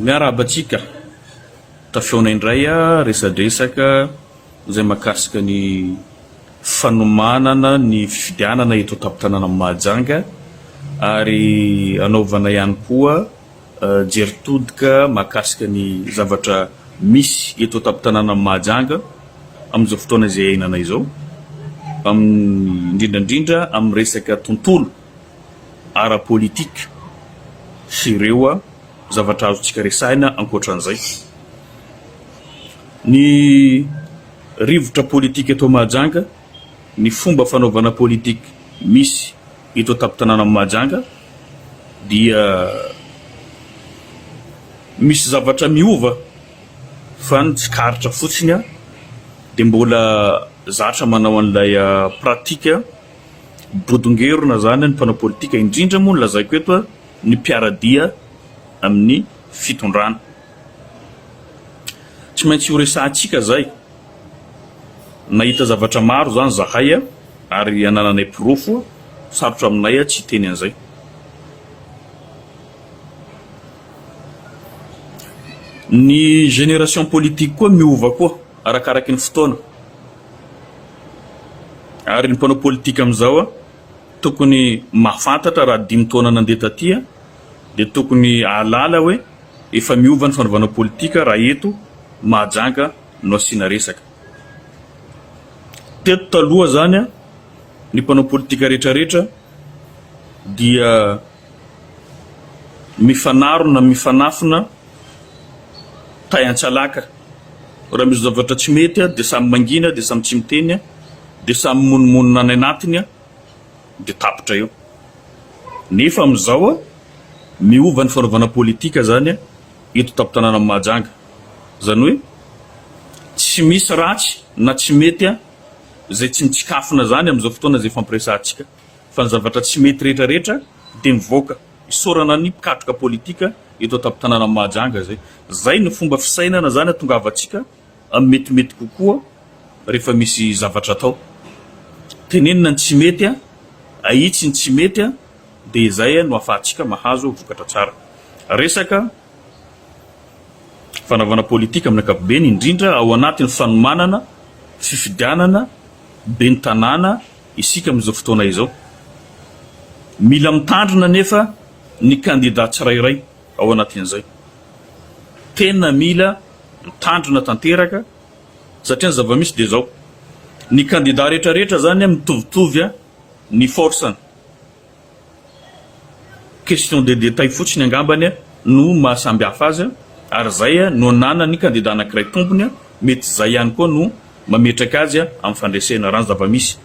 Miarahaba antsika tafihaona indray resadresaka izay mahakasika ny fanomanana ny fifidianana eto an-tampon-tanànan'i Mahajanga ary hanaovana ihany koa jery todika mahakasika ny zavatra misy eto an-tampon-tanànan'i Mahajanga amin'izao fotoana izay iainana izao, indrindra indrindra amin'ny resaka tontolo. ara-politika sy ireo zavatra azontsika resahina ankoatran'izay. Ny rivotra politika eto Mahajanga, ny fomba fanaovana politika misy eto an-tampon-tanànan'i Mahajanga dia misy zavatra miova fa ny tsikaritra fotsiny dia mbola zatra manao an'ilay pratika. Bodongerona izany ny mpanao politika, indrindra moa ny lazaiko eto ny mpiara-dia amin'ny fitondrana. Tsy maintsy horesahantsika izay. Nahita zavatra maro izany izahay ary anananay porofo, sarotra aminay tsy hiteny an'izay. Ny génération politique koa miova koa arakaraky ny fotoana. Ary ny mpanao politika amin'izao tokony mahafantatra raha dimy taona nandeha taty dia tokony hahalala hoe efa miova ny fanaovana politika raha eto Mahajanga no asiana resaka. Teto taloha izany ny mpanao politika rehetrarehetra dia mifanarona, mifanafina. tay an-tsalaka raha misy zavatra tsy mety dia samy mangina dia samy tsy miteny dia samy mimonomonona any anatiny dia tapitra eo nefa amin'izao miova ny fanaovana politika zany eto tampon-tanànan'i Mahajanga zany hoe tsy misy ratsy na tsy mety izay tsy mitsikafona zany amin'izao fotoana izay fampiresahantsika fa ny zavatra tsy mety rehetra rehetra dia mivoaka Isaorana ny mpikatroka politika eto an-tampon-tanànan'i Mahajanga izay. Izay no fomba fisainana izany hatongavantsika amin'ny metimety kokoa rehefa misy zavatra atao. Tenenina ny tsy mety, ahitsy ny tsy mety dia izay no ahafahantsika mahazo vokatra tsara. Resaka fanaovana politika amin'ny ankapobeny, indrindra ao anatin'ny fanomanana fifidianana ben'ny tanàna Isika amin'izao fotoana izao, mila mitandrina anefa ny kandida tsirairay ao anatin'izay. Tena mila mitandrina tanteraka satria ny zava-misy dia izao, ny kandida rehetra rehetra izany mitovitovy ny force-ny. Question de détail fotsiny angambany no maha samy hafa azy ary izay no ananan'ny kandida anankiray tompony, mety izay ihany koa no mametraka azy amin'ny fandresena raha ny zava-misy.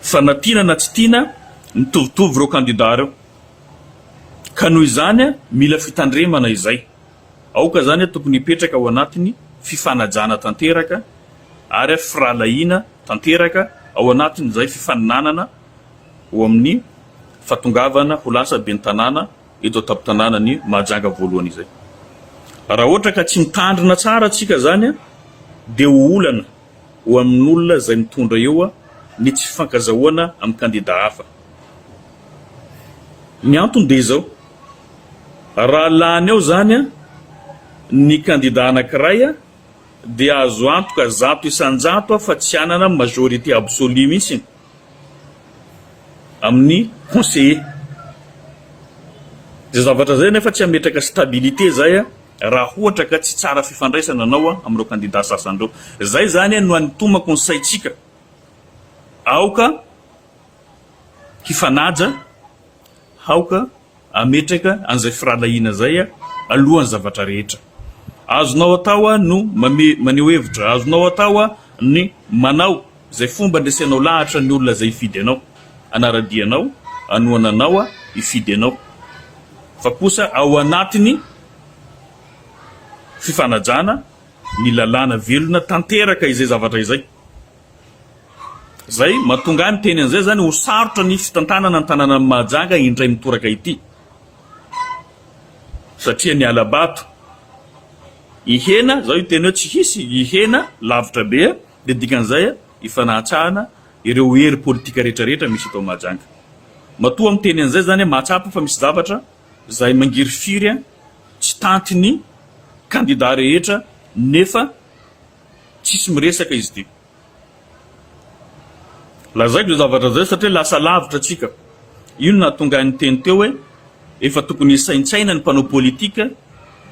Fa na tiana na tsy tiana, mitovitovy ireo kandida ireo. Ka noho izany mila fitandremana izay. Aoka izany tokony hipetraka ao anatin'ny fifanajana tanteraka ary firahalahiana tanteraka ao anatin'izay fifaninanana. ho amin'ny fahatongavana ho lasa ben'ny tanàna eto an-tampon-tanànan'i Mahajanga voalohany izay. Raha ohatra ka tsy mitandrina tsara tsika izany dia ho olana ho amin'olona izay mitondra eo ny tsy fifankazahoana amin'ny kandida hafa. Ny antony dia izao, raha lany ao izany ny kandida anankiray dia azo antoka zato isan-jato fa tsy hanana majorité absolue mihitsy. amin'ny conseiller. Izay zavatra izay anefa tsy hametraka stabilité izay raha ohatra ka tsy tsara fifandraisana anao amin'ireo kandida sasany ireo. Izay izany no anitomako ny saintsika. Aoka hifanaja. Aoka hametraka an'izay firahalahiana izay alohan'ny zavatra rehetra. Azonao atao no maneho hevitra. Azonao atao ny manao izay fomba andresenao lahatra ny olona izay hifidy anao, hanara-dia anao, hanohana anao, hifidy anao. Fa kosa ao anatin'ny fifanajana ny lalàna velona tanteraka izay zavatra izay. Izay mahatonga ahy miteny an'izay izany, ho sarotra ny fitantanana ny tanànan'i Mahajanga indray mitoraka ity, satria ny hala-bato hihena, izao hiteny hoe tsy hisy, hihena lavitra be, dia dikan'izay hifanahatsahana ireo hery politika rehetrarehetra misy eto Mahajanga. Matoa miteny an'izay izany aho, mahatsapa fa misy zavatra izay mangirifiry tsy tantin'ny kandida rehetra, nefa. Tsisy miresaka izy ity. Lazaiko izay zavatra izay satria lasa lavitra antsika. Io no nahatonga ahy niteny teo hoe efa tokony hisaintsaina ny mpanao politika,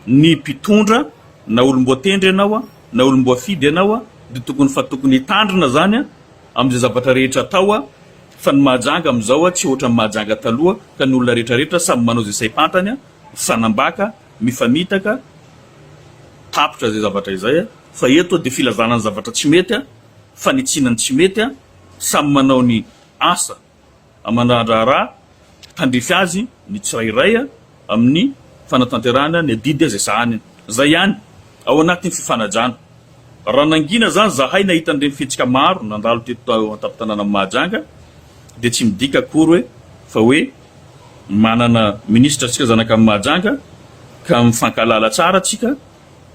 ny mpitondra, na olom-boatendry ianao na olom-boafidy ianao dia tokony fa tokony hitandrina izany amin'izay zavatra rehetra atao fa ny Mahajanga amin'izao tsy ohatran'ny Mahajanga taloha ka ny olona rehetrarehetra samy manao izay saim-pantany mifanambaka Mifamitaka tapitra izay zavatra izay fa eto dia filazana ny zavatra tsy mety, fanitsiana ny tsy mety, samy manao ny asa aman-draharaharaha, tandrify azy ny tsirairay amin'ny fanatanterahana ny adidy izay sahany. Izay ihany, ao anatin'ny fifanajana. Raha nangina izany izahay nahita an'ireny fihetsika maro nandalo teto an-tampon-tanànan'i Mahajanga dia tsy midika akory hoe fa hoe, Manana Ministra tsika zanaka Mahajanga ka mifankahalala tsara tsika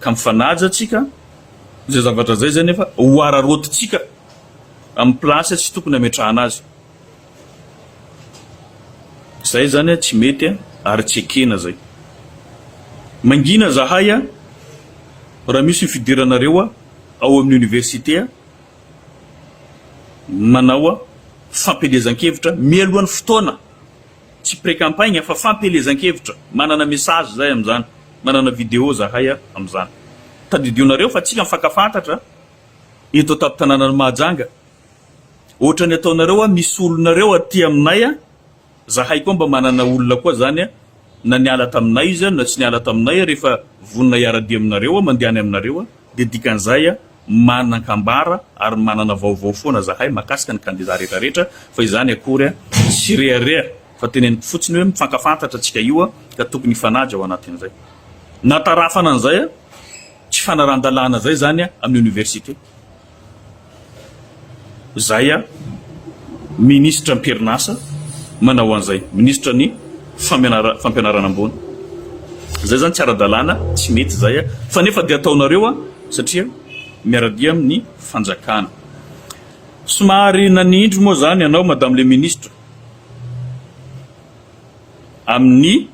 ka mifanaja tsika, izay zavatra izay izay nefa ho araraotintsika amin'ny place tsy tokony hametrahana azy. Izay izany tsy mety ary tsy ekena izay. Mangina izahay raha misy ny fidiranareo ao amin'ny Université Nanao fampielezan-kevitra mialohan'ny fotoana, tsy pre-campagne fa fampielezan-kevitra, manana message zahay amin'izany, manana video zahay amin'izany. Tadidionareo fa tsika mifankafantatra eto an-tampon-tanànan'i Mahajanga. Ohatran'ny ataonareo hoe misy olonareo aty aminay. Zahay koa mba manana olona koa zany a, na niala taminay izy a, na tsy niala taminay a, rehefa vonona hiara-dia aminareo a, mandeha any aminareo a, dia dikan'izay a, manan-kambara ary manana vaovao foana zahay mahakasika ny kandidà rehetra rehetra, fa izany akory a, tsy rehareha, fa teneniko fotsiny hoe mifankafantatra tsika io a, ka tokony hifanaja ao anatin'izay. Natarafana an'izay a, tsy fanarahan-dalàna zay zany a, amin'ny Oniversite. Zay a! Minisitra am-perinasa manao an'izay, minisitra ny fampianarana ambony. Zay zany tsy ara-dalàna, tsy mety zay a! Fa nefa dia ataonareo a! Satria miara-dia amin'ny fanjakana. Somary nanindry moa zany ianao Madame le Ministre, amin'ny.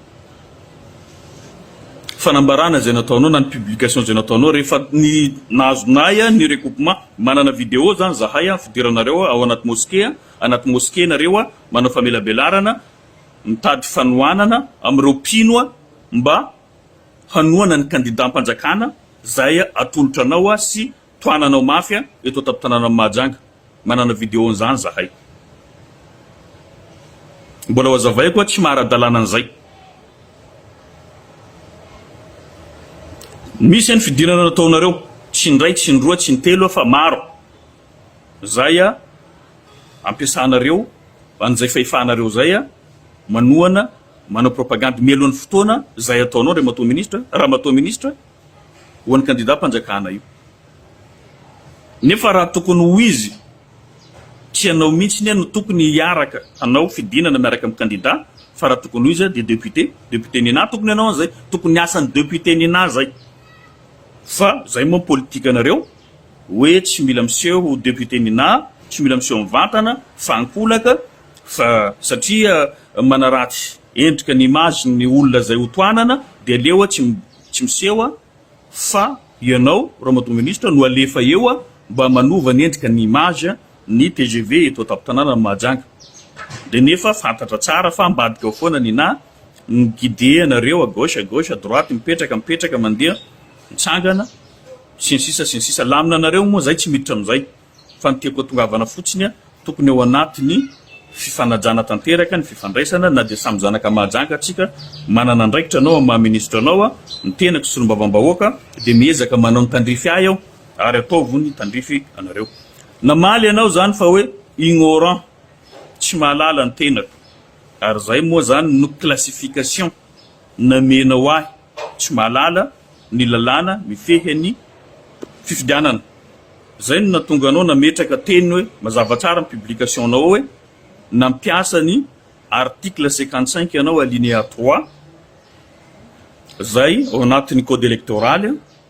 fanambarana izay nataonao na ny publication izay nataonao rehefa ny nahazonay an ny recoupement manana video zany zahay an fidiranareo ao anaty mosquée an anaty mosquée nareo an manao famelabelarana mitady fanohanana amin'ireo mpino an mba hanohana ny kandidam-panjakana izay atolotra anao an sy tohananao mafy an eto an-tampon-tanànan'i Mahajanga. Manana video an'izany zahay. Mbola hoazavaiko hoa tsy maha-ara-dalàna an'izay. Misy ny fidirana nataonareo, tsy indray, tsy indroa, tsy intelo fa maro. Izay ampiasanareo an'izay fahefanareo izay manohana, manao propagandy mialohan'ny fotoana izay ataonao Andriamatoa Minisitra, Ramatoa Minisitra, ho an'ny kandidàm-panjakana io. Nefa raha tokony ho izy, tsy ianao mihitsy anie no tokony hiaraka hanao fidinana miaraka amin'ny kandida fa raha tokony ho izy dia député, député Nina tokony hanao an'izay, tokony hiasan'i député Nina izay. Fa izay moa ny politikanareo hoe tsy mila miseho député Nina, tsy mila miseho mivantana fa ankolaka fa satria manaratsy endrika ny image-ny ny olona izay ho tohanana dia aleo tsy tsy miseho fa ianao Ramatoa Ministra no alefa eo mba manova ny endrika ny image ny tgv eto an-tampon-tanànan'i Mahajanga. Dia nefa fantatra tsara fa ambadika ao foana ny na ny guide anareo à gauche à gauche à droite mipetraka mipetraka mandeha mitsangana sy ny sisa sy ny sisa lamina anareo moa izay tsy miditra amin'izay. Fa ny tiako atongavana fotsiny an, tokony ao anatiny fifanajana tanteraka ny fifandraisana na dia samy zanaka Mahajanga tsika, manana andraikitra anao amin'ny maha ministra anao an, ny tenako solombavambahoaka dia miezaka manao ny tandrify ahy aho ary ataovo ny tandrify anareo. Namaly ianao zany fa hoe ignorant, tsy mahalala ny tenako, ary zay moa zany no classification. Namenao ahy tsy mahalala ny lalàna mifehy an'ny fifidianana. Izay no nahatonga anao nametraka teny hoe mazava tsara ny publication-nao ao hoe nampiasa ny article cinquante cinq ianao alinéa trois izay ao anatin'ny code électoral.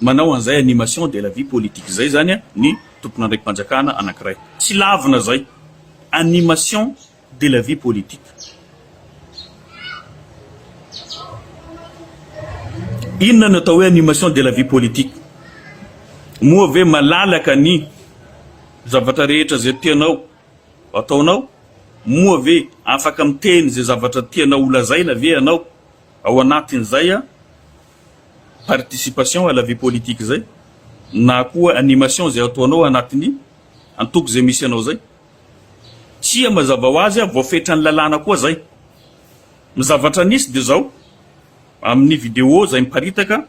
Manao an'izay animation de la vie politique izay izany ny tomponandraiki-panjakana anankiray. Tsy lavina izay. Animation de la vie politique. Inona no atao hoe animation de la vie politique? Moa ve malalaka ny zavatra rehetra izay tianao ataonao? Moa ve afaka miteny izay zavatra tianao holazaina ve ianao ao anatin'izay? participation à la vie politique zay na koa animation zay ataonao anatin'ny antoko zay misy anao zay, tsia mazava ho azy voafetran'ny lalàna koa zay. Ny zavatra nisy dia zao, amin'ny vidéo zay miparitaka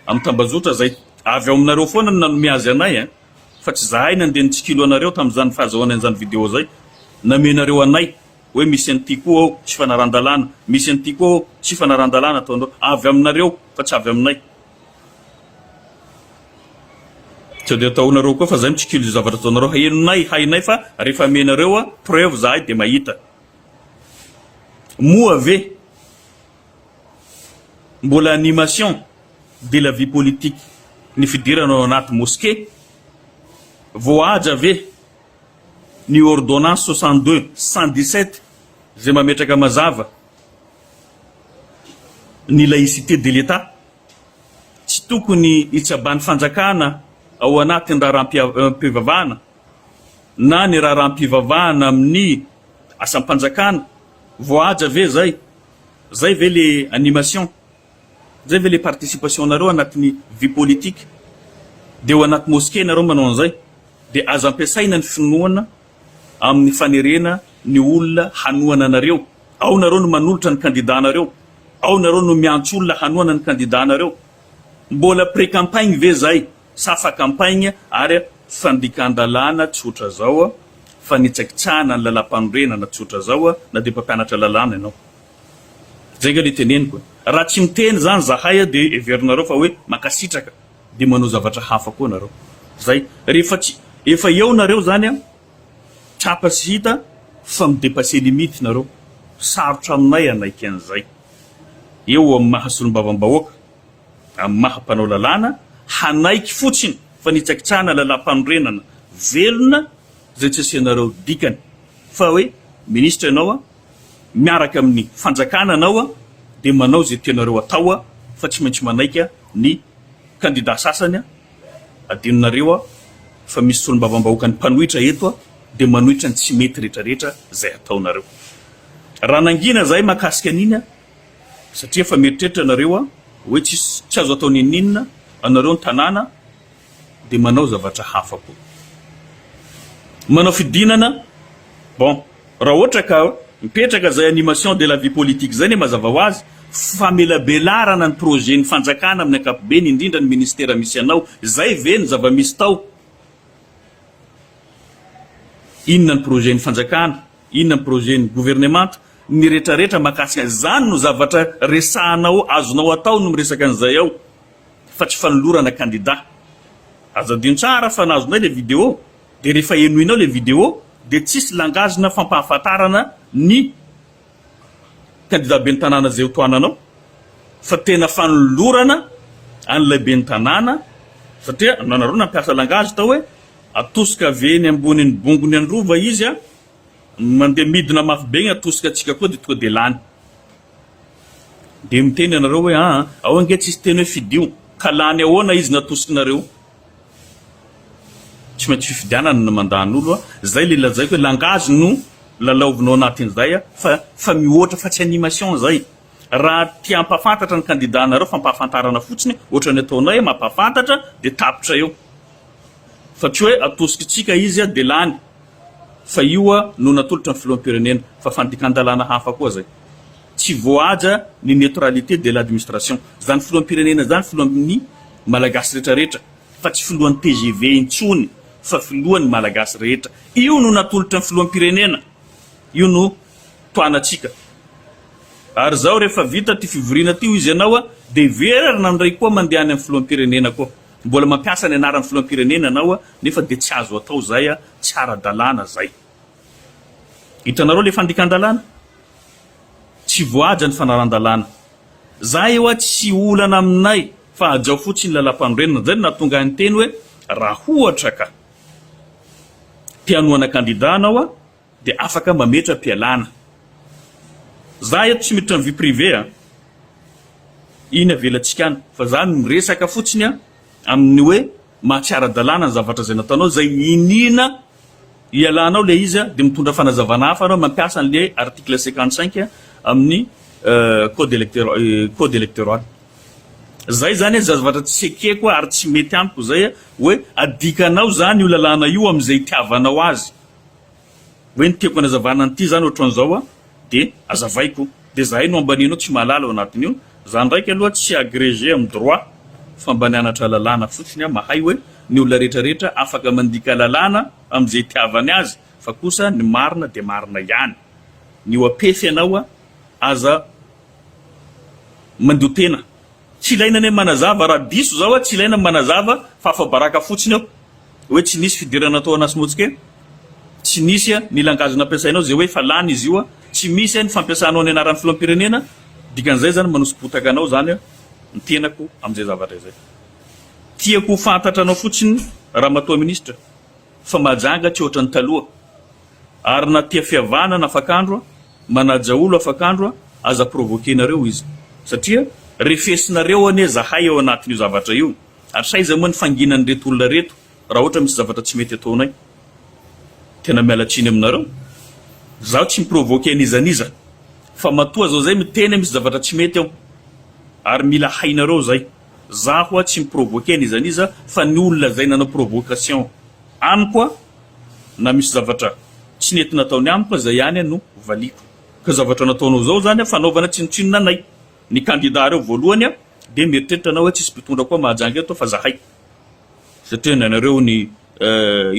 amin'ny tambajotra zay, avy ao aminareo foana no nanome azy anay eh, fa tsy zahay nandeha nitsikilo anareo tamin'izany fahazahoana an'izany vidéo zay, namenareo anay. hoe misy an'ity koa ao tsy fanaran-dalàna, misy an'ity koa ao tsy fanaran-dalàna ataonareo, avy aminareo fa tsy avy aminay. Sao dia ataonareo koa fa zay mitsikilo izay zavatra ataonareo henonay, hainay fa rehefa amenareo preuve zahay dia mahita. Moa ve mbola animation de la vie politique ny fidirana ao anaty mosquée? Voahaja ve? ny ordonnance soixante deux cent dix sept izay mametraka mazava ny laïcité de l'Etat. Tsy tokony hitsaban'ny fanjakana ao anatin'ny raharaham-pivavahana na ny raharaham-pivavahana amin'ny asam-panjakana. Voahaja ve izay? Izay ve le animation? Zay ve le participation nareo anatiny vie politique? De ao anaty mosquée nareo manao anzay de aza ampiasaina ny finoana aminy fanerena ny olona hanohana anareo, ao nareo no manolotra ny candidat nareo, ao nareo no miantso olona hanohana ny candidat nareo, mbola pré campagne ve zay sa fa campagne ary fandikandalana tsotra zao, fanitsakitsahana ny lalampanorenana tsotra zao na de mpampianatra lalàna ianao. Zay nga le teneniko e! Raha tsy miteny zany zahay a de heverinareo fa hoe mankasitraka de manao zavatra hafa koa nareo. Zay. Rehefa tsy efa eo nareo zany a, tratra sy hita fa mi-depasser limite nareo. Sarotra aminay hanaiky an'izay. Eo amin'ny maha solombavambahoaka, amin'ny maha mpanao lalàna, hanaiky fotsiny fa nitsakitsahana lalàmpanorenana velona zay tsy asianareo dikany. Fa hoe minisitra ianao a, miaraka amin'ny fanjakana anao dia manao izay tianareo atao fa tsy maintsy manaiky ny kandida sasany, adinonareo fa misy solombavambahoaka ny mpanohitra eto dia manohitra ny tsy mety retraretra izay ataonareo raha nangina izahay mahakasika an'iny satria efa mieritreritra ianareo hoe tsisy tsy azo atao n'inon'inona anareo ny tanàna dia manao zavatra hafa koa. Manao fidinana, bon, raha ohatra ka mipetraka izay animation de la vie politique izay anie mazava ho azy, famelabelarana ny projet ny fanjakana amin'ny ankapobeny indrindra ny ministera misy anao, izay ve ny zava-misy tao? Inona ny projet ny fanjakana? Inona ny projet ny governemanta? Ny retraretra mahakasika izany no zavatra resahanao azonao atao no miresaka an'izay ao. fa tsy fanolorana kandida. Azo adino tsara fa na azonay le video de rehefa henoinao le video de tsisy langage na fampahafantarana ny kandida ben'ny tanàna zay ho tohananao fa tena fanolorana an'ilay ben'ny tanàna satria nanareo nampiasa langage tao hoe atosika avy eny ambonin'ny bongony androva izy a, mandeha midina mafy be igny atosika antsika koa de tonga de lany. Dia miteny ianareo hoe, Aa, ao ange tsisy teny hoe fidio, ka lany ahoana izy natosikinareo? Tsy maintsy fifidianana no mandany olo a! Zay le lazaiko hoe langage no lalaovinao anatin'izay a! Fa fa mihoatra fa tsy animation izay! Raha te hampafantatra ny kandida anareo fampahafantarana fotsiny ohatra ny ataonay mampahafantatra dia tapitra eo! Fa tsy hoe atosikintsika izy a dia lany! Fa io no natolotry ny filoham-pirenena, fa fandikan-dalàna hafa koa zay. Tsy voahaja ny neutralité de l'administration. Zany filoham-pirenena zany filohan'ny Malagasy rehetra rehetra, fa tsy filohan'ny tgv intsony, fa filohan'ny Malagasy rehetra. Io no natolotry ny filoham-pirenena, io no tohanantsika. Ary zao rehefa vita ty fivoriana ty hoy izy ianao, de hiverina indray koa mandeha any amin'ny filoham-pirenena koa. Mbola mampiasa ny anaran'ny filoham-pirenena anao nefa dia tsy azo atao zay tsy ara-dalàna zay. Hitanareo le fandikan-dalàna? Tsy voahaja ny fanarandalàna. Zah eo aho tsy olana aminay fa hajao fotsiny lalam-panorenana. Zay no nahatonga ahy niteny hoe raha ohatra ka te hanohana kandida anao, Dia afaka mametra-pialana. Za eto tsy miditra am vie privée a. Iny avelantsika any. Fa za miresaka fotsiny a, amin ny hoe maha tsy ara-dalàna ny zavatra izay nataonao, izay iniana hialanao ilay izy a, dia mitondra fanazavana hafa ianao mampiasa an ilay article cinquante cinq amin ny code electeur code electoral. Izay izany a, zavatra tsy ekeko a ary tsy mety amiko izay a, hoe adikanao izany io lalàna io amin izay itiavanao azy. Hoe ny tiako anazavana an'ity zany ohatran'izao a, dia azavaiko, dia zahay no ambanianao tsy mahalala ao anatin'io, za ndraiky aloha tsy agrégé amin'ny droit fa mba nianatra lalàna fotsiny aho, mahay hoe ny olona rehetra rehetra afaka mandika lalàna amin'izay itiavany azy fa kosa ny marina dia marina ihany, ny OAPF ianao a, aza mandio tena. Tsy ilaina ny manazava raha diso za oa tsy ilaina ny manazava fa afabaraka fotsiny eo oe tsy nisy fidirana natao anasy motsika eo tsy nisy a ny langage nampiasainao ze oe efa lany izy io a tsy misy a ny fampiasanao ny anarany filohampirenena dikan'izay zany manosibotaka anao zany a ny tenako amzay zavatra izay tiako ho fantatra anao fotsiny ramatoa ministra fa mahajanga tsy ohatran'ny taloha ary na tia fiavahana na afakandro a Manaja olo afakandro a! Aza provoquer-nareo izy satria refesinareo anie zahay ao anatin'io zavatra io ary sa iza moa ny fanginan'ireto olona reto raha ohatra misy zavatra tsy mety ataonay? Tena miala tsiny aminareo. Zaho tsy mi-provoquer n'iza n'iza fa matoa zao zay miteny misy zavatra tsy mety ao ary mila hainareo zay. Zaho a tsy mi-provoquer n'iza n'iza fa ny olona zay nanao provocation amiko a! na misy zavatra tsy nety nataony amiko zay ihany no valiako ka zavatra nataonao zao zany fanaovana tsinontsinona anay ny kandida reo voalohany de mieritreritra anao oe tsisy mpitondra koa mahajanga eto fa zahay satria ny anareo ny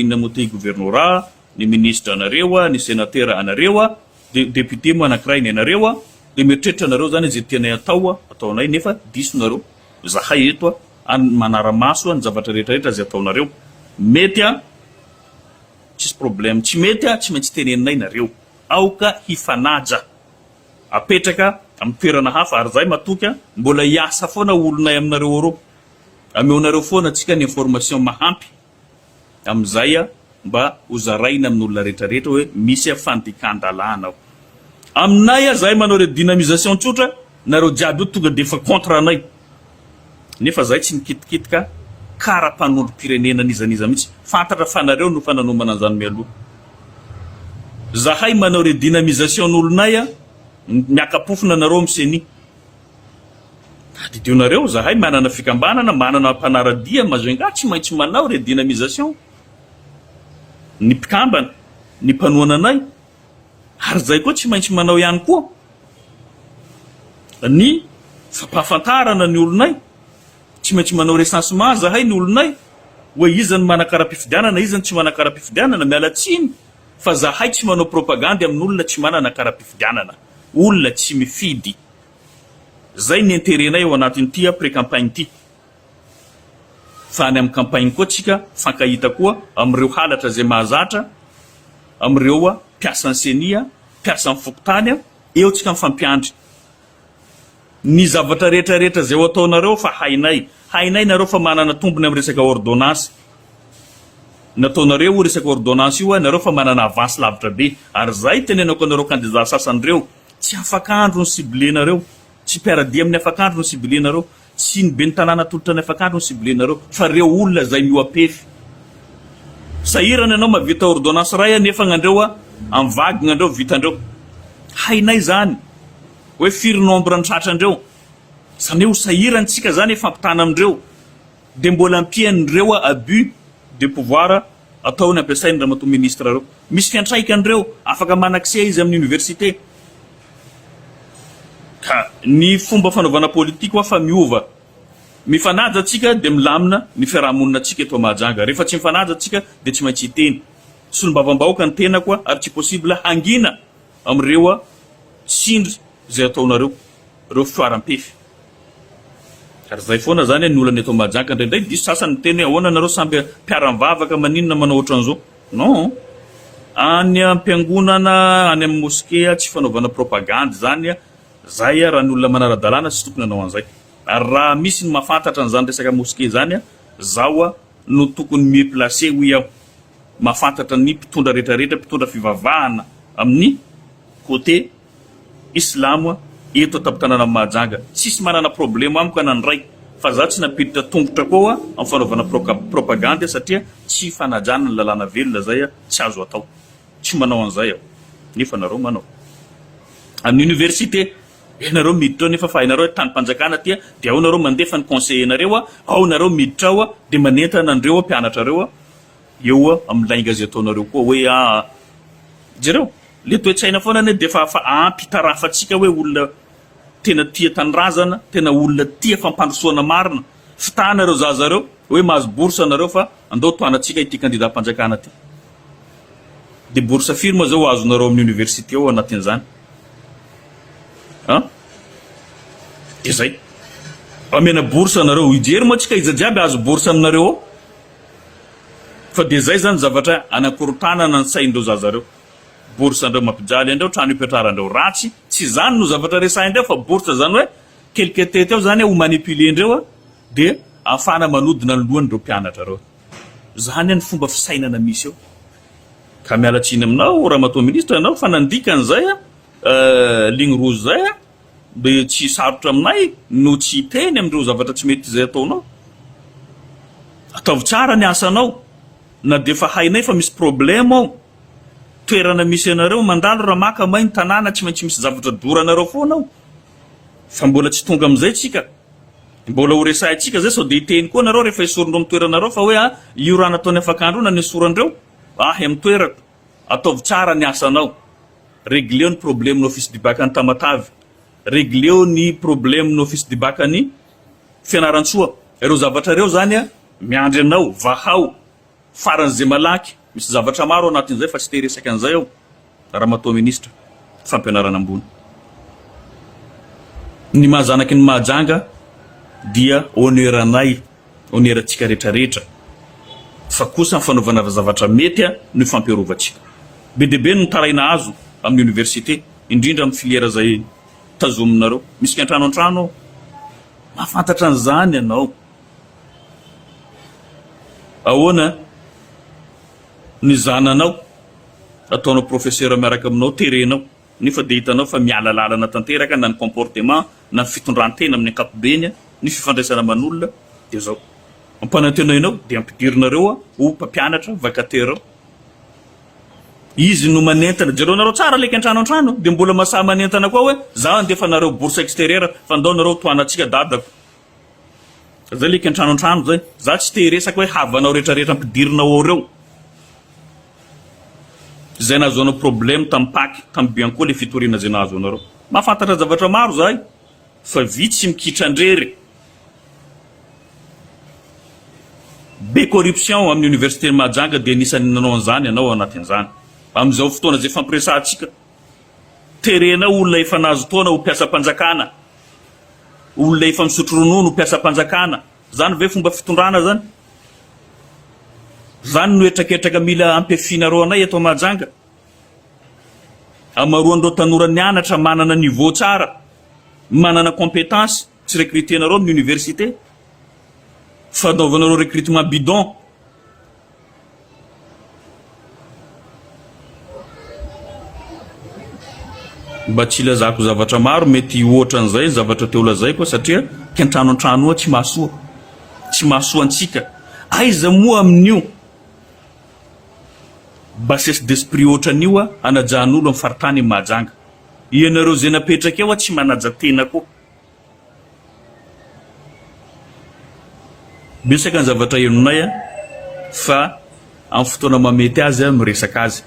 inona moa ty governora ny ministra anareo ny senatera anareo de depute moa anakiray ny anareo de mieritreritra anareo zany zay tianay atao ataonay nefa diso nareo Izahay eto any manara-maso ny zavatra rehetra rehetra izay ataonareo. Mety an! Tsisy problème. Tsy mety an! Tsy maintsy teneninay nareo. Aoka hifanaja. Apetraka amin'ny toerana hafa ary izahay matoky an! Mbola hiasa foana olonay aminareo Europe. Ameonareo foana antsika ny information mahampy. amin'izay mba ho zaraina amin'olona rehetra rehetra hoe misy fandikan-dalàna ao aminay ah, zahay manao redynamisation tsotra, nareo jiaby io tonga defa contre anay, nefa zahay tsy mikitikitika kara mpanondrom-pirenena n'iza n'iza mihitsy, fantatra fa nareo no efa nanomana an'izany mialoha, zahay manao redynamisation n'olonay ah, miaka-pofona nareo amin'ny ceni. Tadidio nareo, zahay manana fikambanana, manana mpanara-dia, Majunga tsy maintsy manao redynamisation ny mpikambana, ny mpanohana anay, ary zay koa tsy maintsy manao ihany koa ny fampahafantarana ny olonay, tsy maintsy manao recensement zahay ny olonay, hoe iza no manakara-pifidianana, iza no tsy manakara-pifidianana, miala tsiny fa zahay tsy manao propagandy amin'olona tsy manana kara-pifidianana. olona tsy mifidy zay ny interet nay ao anatin ty a pré campagne ty fa any am campagne koa tsika fankahita koa am reo halatra zay mahazatra am reo a mpiasan ceni a mpiasan fokontany a eo tsika mifampiandry Ny zavatra rehetra rehetra izay ho ataonareo fa hainay. Hainay nareo fa manana tombony am resaka ordonnance nataonareo io resaka ordonnance io nareo fa manana avance lavitra be. Ary zay tenenako anareo kandida sasany reo tsy afaka andro ny cible nareo. Tsy mpiaradia aminy afaka andro ny cible nareo. Tsy ny beny tanàna atolotra ny afaka andro ny cible nareo fa reo olona zay mihoapefy. Sahirana ianao mavita ordonnance ray a nefa gnandreo a am vagny gnandreo vitandreo. Hainay zany. Hoe firy nombre ny tratra ndreo? Zany hoe ho sahirana tsika zany hifampitana amindreo de mbola ampianindreo abus de pouvoir atao ny ampiasainy ramatoa ministre reo. Misy fiantraikany reo, afaka man accès izy aminy université. Ka ny fomba fanaovana politique hoa fa miova. Mifanaja tsika de milamina ny fiarahamonina tsika eto Mahajanga. Refa tsy mifanaja tsika de tsy maintsy hiteny. Solombavambahoaka ny tenako ary tsy possible hangina. Amin'ireo tsindry izay ataonareo ireo firaram-pefy. Ary izay foana izany ny olana eto Mahajanga. Indraindray diso sasany miteny hoe ahoana nareo samby mpiara-mivavaka maninona manao ohatran'izao. Non. Any am-piangonana, any amin'ny moskea tsy fanaovana propagandy izany. Izay raha ny olona manara-dalàna tsy tokony hanao an'izay. Ary raha misy ny mahafantatra an'izany resaka moskea izany, izaho. no tokony mieux placé hoy aho, mahafantatra ny mpitondra rehetra rehetra mpitondra fivavahana amin'ny côté islamo eto an-tampon-tanànan'i Mahajanga. Tsisy manana problème amiko ana ny ray fa za tsy nampiditra tongotra koa amin'ny fanaovana propagandy satria tsy fanajana ny lalàna velona zay tsy azo atao. Tsy manao an'izay aho, nefa nareo manao. Amin'ny oniversite, ianareo miditra ao nefa fa hainareo hoe tanim-panjakana ity, dia ao nareo mandefa ny conseiller-nareo, ao nareo miditra ao dia manentana an'ireo mpianatrareo eo amin'ny lainga izay ataonareo koa hoe aa. Jereo, ilay toe-tsaina foana anie dia efa fa ampy hitarafantsika hoe olona tena tia tanindrazana, tena olona tia fampandrosoana marina. Fitahana ireo zaza ireo hoe mahazo bourse nareo fa andao tohanantsika ity kandidam-panjakana ity. Dia bourse firy moa zao ho azonareo amin'ny université ao anatin'izany? An? Dia zay. Amena bourse anareo, hijery moa tsika iza jiaby ahazo bourse aminareo ao. Fa dia zay zany zavatra anakorontanana ny sain'ireo zaza ireo. Bourse an'ireo mampijaly an'ireo trano hipetraran-dreo ratsy, tsy izany no zavatra resahin-dreo fa bourse izany hoe Quelques têtes ao zany ho manipuler ndreo de afahana manodina ny lohany reo mpianatra reo. Zany any fomba fisainana misy eo. Ka miala tsiny aminao Ramatoa Ministra anao fa nandika an'izay ligne rouge zay de tsy sarotra aminay no tsy hiteny amin'ireo zavatra tsy mety izay ataonao. Ataovy tsara ny asanao na dia efa hainay fa misy problème ao toerana misy anareo mandalo raha maka may ny tanàna tsy maintsy misy zavatra doranareo foana ao. Fa mbola tsy tonga amin'izay tsika. Mbola ho resahintsika izay sao dia hiteny koa nareo rehefa esorindreo amin'ny toeranareo fa hoe ah io raha nataon'i Afakandro io na ny esorandreo ahy amin'ny toerako. Ataovy tsara ny asanao. Regleo ny problemin'ny office du bac any Tamatave. Regleo ny problemin'ny office du bac any Fianarantsoa. Ireo zavatra ireo izany miandry anao. Vahao. Faran'izay malaky, misy zavatra maro ao anatin'izay fa tsy te-hiresaka an'izay aho, Ramatoa Minisitra, fampianarana ambony. Ny maha zanaky ny Mahajanga dia honneur-anay, honneur-antsika rehetra rehetra, fa kosa ny fanaovana zavatra mety no ifampiarovantsika. Be dia be ny mitaraina azo amin'ny Oniversite, indrindra amin'ny filière izay tazominareo. Misy ny an-trano an-trano ao, mahafantatra an'izany ianao. Ahoana ny zananao? Ataonao professeur miaraka aminao, terenao, nefa dia hitanao fa miala lalana tanteraka na ny comportement na ny fitondran-tena amin'ny ankapobeny, ny fifandraisana aman'olona, dia izao. Ampanantena enao dia ampidirinareo ho mpampianatra, vacataire. Izy no manentana. Jereo nareo tsara leky antrano antrano dia mbola masahy manentana koa hoe za andefa nareo bourse exterieur fa ndao nareo tohana antsika dadako. Zay like antrano antrano zay. Za tsy te hiresaka hoe havanao rehetra rehetra ampidirinao ao reo. Zay nahazoanao problème tam paky tam by ankoa le fitoriana zay nahazo anareo. Mahafantatra zavatra maro zahay fa vitsy mikitra ndrery. Be corruption amin'ny université ny Mahajanga de anisan'ny nanao an'zany ianao ao anatin'zany. Amin'izao fotoana zay fampiresahantsika Terena olona efa nahazo taona ho mpiasam-panjakana, olona efa misotro ronono ho mpiasam-panjakana. Zany ve fomba fitondrana zany? Zany no hetraketraka mila ampiafinareo anay eto Mahajanga? Amaroan'ireo tanora nianatra manana niveau tsara, manana compétence, tsy recruter-nareo amin'ny université. Fanaovanareo recrutement bidon. Mba tsy hilazako zavatra maro mety ohatran'izay ny zavatra te holazaiko satria kentrano an-trano oa tsy mahasoa. Tsy mahasoa antsika. Aiza moa amin'io bassesse d'esprit ohatran'io oa anajan'olo amin'ny faritany i Mahajanga. Ianareo izay napetraka eo oa tsy manaja tena koa. Betsaka ny zavatra henonay a, fa amin'ny fotoana mahamety azy aho miresaka azy.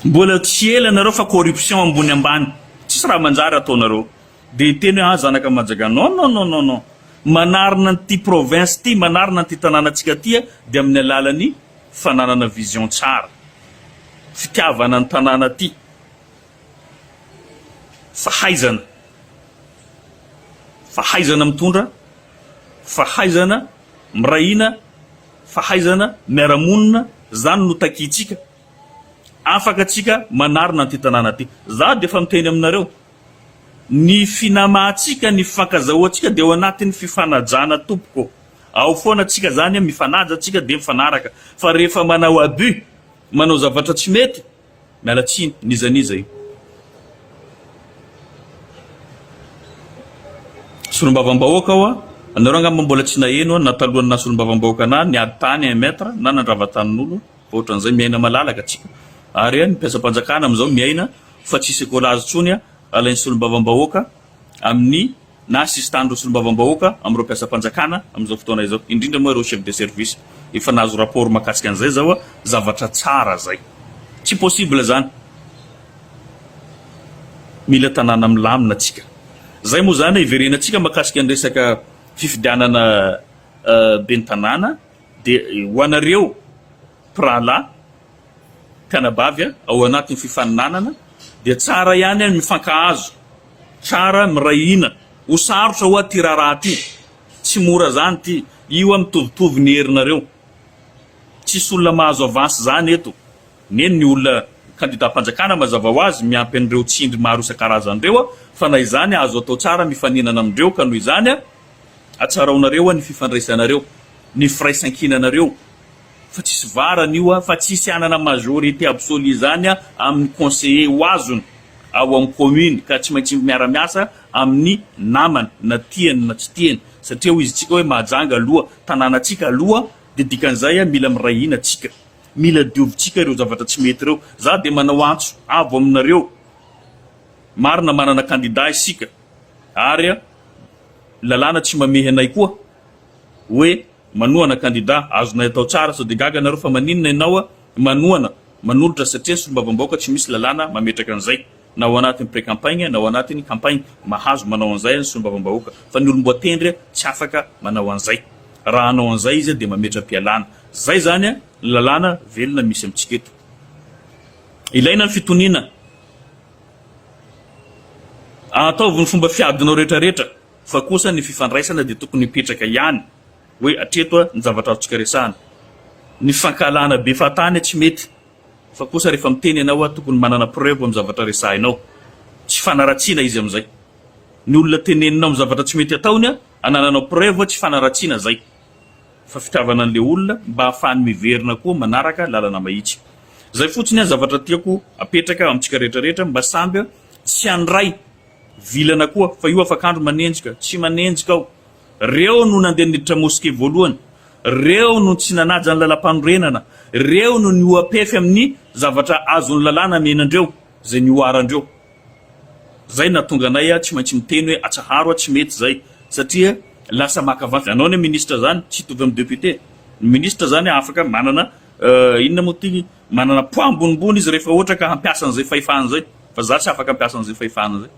Mbola tsy ela nareo fa corruption ambony ambany, tsisy raha manjary ataonareo. Dia hiteny hoe ah zanaka Majaga, non non non non non. Manarina an'ity province ity, manarina an'ity tanànantsika ity aho dia amin'ny alalan'ny fananana vision tsara, fitiavana ny tanàna ity. Fahaizana, fahaizana mitondra, fahaizana miray hina, fahaizana miara-monina, izany no takintsika. Afaka tsika manarina an'ity tanàna ity. Izaho dia efa miteny aminareo, ny finamahantsika, ny fifankazahoantsika dia ao anatin'ny fifanajana tompoko. Ao foana tsika izany, mifanaja tsika dia mifanaraka. Fa rehefa manao abus, manao zavatra tsy mety, Miala tsiny n'iza n'iza io. Solombavambahoaka ho'a anareo angamba mbola tsy naheno ho'a na talohan'ny naha solombavambahoaka anaha niady tany un mètre na nandrava tanin'olo fa ohatran'izay miaina malalaka tsika ary an ny mpiasam-panjakana amin'izao miaina fa tsisy écolage tsony alain'ny solombavambahoaka amin'ny na sisin-tanin'ireo solombavambahoaka amin'ireo mpiasam-panjakana amin'izao fotoana izao, indrindra moa ireo chef de service. Efa nahazo rapport mahakasika an'izay izao aho, zavatra tsara izay. Tsy possible izany. Mila tanàna milamina tsika. Izay moa izany hiverenantsika mahakasika ny resaka fifidianana ben'ny tanàna dia ho anareo mpirahalahy, Mpianabavy a, ao anatin'ny fifaninanana dia tsara ihany an mifankahazo, tsara miray hina, ho sarotra hoa ty raharaha ty, tsy mora zany ty, io an mitovitovy ny herinareo, tsisy olona mahazo avance zany eto, neny ny olona kandidam-panjakana mazava ho azy miampy an'ireo tsindry maro isan-karazany ireo fa na izany azo atao tsara mifaninana amindreo ka noho izany a, Atsaraonareo an ny fifandraisanareo, ny firaisankinanareo fa tsisy varany io fa tsisy hanana majorité absolue izany amin ny conseiller ho azony ao amin ny commune ka tsy maintsy miara miasa amin ny namany na tiany na tsy tiany satria hoy izy tsika hoe Mahajanga aloha tananatsika aloha dia dikan'izay mila miray hina tsika mila diovitsika ireo zavatra tsy mety ireo za dia manao antso avo aminareo marina manana candidat isika ary Lalàna tsy mamehy anay koa hoe manohana kandida azonay atao tsara sao de gaga nareo fa maninona enao manohana manolotra satria ny solombavambahoaka tsy misy lalàna mametraka an'izay na ao anatin'ny precampaigna na ao anatin'ny campaigna mahazo manao an'izay ny solombavambahoaka fa ny olomboatendry tsy afaka manao an'izay raha hanao an'izay izy de mametram-pialana zay zany ny lalàna velona misy amintsika eto ilaina ny fitoniana Ataovy ny fomba fiadinao rehetra rehetra fa kosa ny fifandraisana dia tokony hipetraka ihany hoe hatreto a ny zavatra azontsika resahana. Ny fifankahalana be fahatany tsy mety fa kosa rehefa miteny ianao a tokony manana preuve amin'ny zavatra resahinao. Tsy hifanaratsiana izy amin'izay. Ny olona teneninao amin'ny zavatra tsy mety ataony a anananao preuve tsy hifanaratsiana izay. fa fitiavana an'ilay olona mba hahafahany miverina koa manaraka lalana mahitsy. Izay fotsiny ny zavatra tiako apetraka amintsika rehetra rehetra mba samby tsy handray vilana koa fa io afak'andro manenjika tsy manenjika aho. Reo no nandeha niditra mosquée voalohany, reo no tsy nanaja ny lalam-panorenana, reo no nihoa-pefy amin'ny zavatra azon'ny lalàna nenandreo, izay nihoarandreo. Zay nahatonga anay tsy maintsy miteny hoe atsaharo a tsy mety zay satria lasa maka vady anao ny ministre zany tsy hitovy amin'ny député ny ministre zany afaka manana inona moa ty manana poids ambonimbony izy rehefa ohatra ka hampiasa an'izay fahefany zay fa za tsy afaka hampiasa an'izay fahefany zay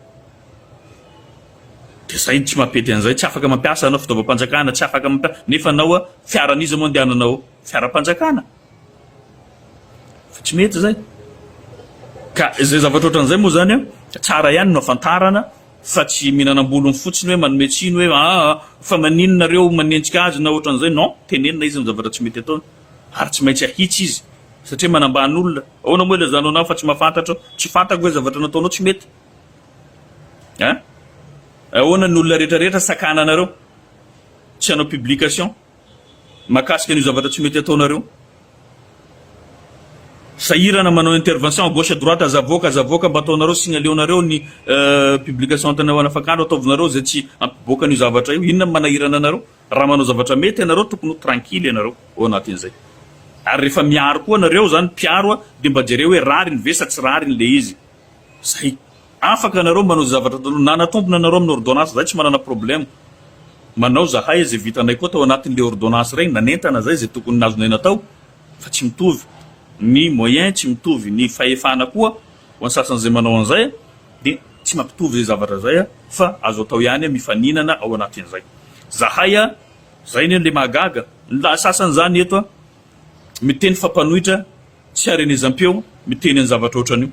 de zay tsy mampety an'izay tsy afaka mampiasa anao fitaovam-panjakana tsy afaka mampiasa nefa anao a fiaran'iza moa andehananao fiaram-panjakana Fa tsy mety izay. Ka izay zavatra ohatran'izay moa izany an, tsara ihany no ahafantarana fa tsy mihinanam-bolony fotsiny hoe manome tsiny hoe aa fa maninona nareo manenjika azy na ohatran'izay, non, tenenina izy ny zavatra tsy mety ataony ary tsy maintsy ahitsy izy satria manambany olona, ahoana moa ilazanao anah fa tsy mahafantatra aho, tsy fantako ve zavatra nataonao tsy mety an, ahoana ny olona rehetra rehetra sakana anareo tsy hanao publication. mahakasika an'io zavatra tsy mety ataonareo sahirana manao intervention à gauche à droite aza avoaka aza avoaka mba ataonareo signaleonareo ny euh, publication tena ho anafakandro ataovinareo izay tsy ampiboaka an'io zavatra io inona manahirana anareo raha manao zavatra mety ianareo tokony ho tranquille ianareo ao anatin'izay ary rehefa miaro koa anareo zany mpiaro a de mba jereo hoe rariny ve sa tsy rariny le izy Zay. Afaka nareo manao zay zavatra ataonao. Nanatombona nareo amin'ny ordonnance zay tsy manana problème. Manao zahay zay vitanay koa tao anatin'ilay ordonnance regny nanentana zay zay tokony nazonay natao fa tsy mitovy ny moyen tsy mitovy ny fahefana koa ho an'ny sasany zay manao an'zay dia tsy mampitovy zay zavatra zay fa azo atao ihany mifaninana ao anatin'zay. Zahay zay anie le mahagaga ny lahy sasany zany eto miteny fa mpanohitra tsy harenezam-peo miteny ny zavatra ohatran'io.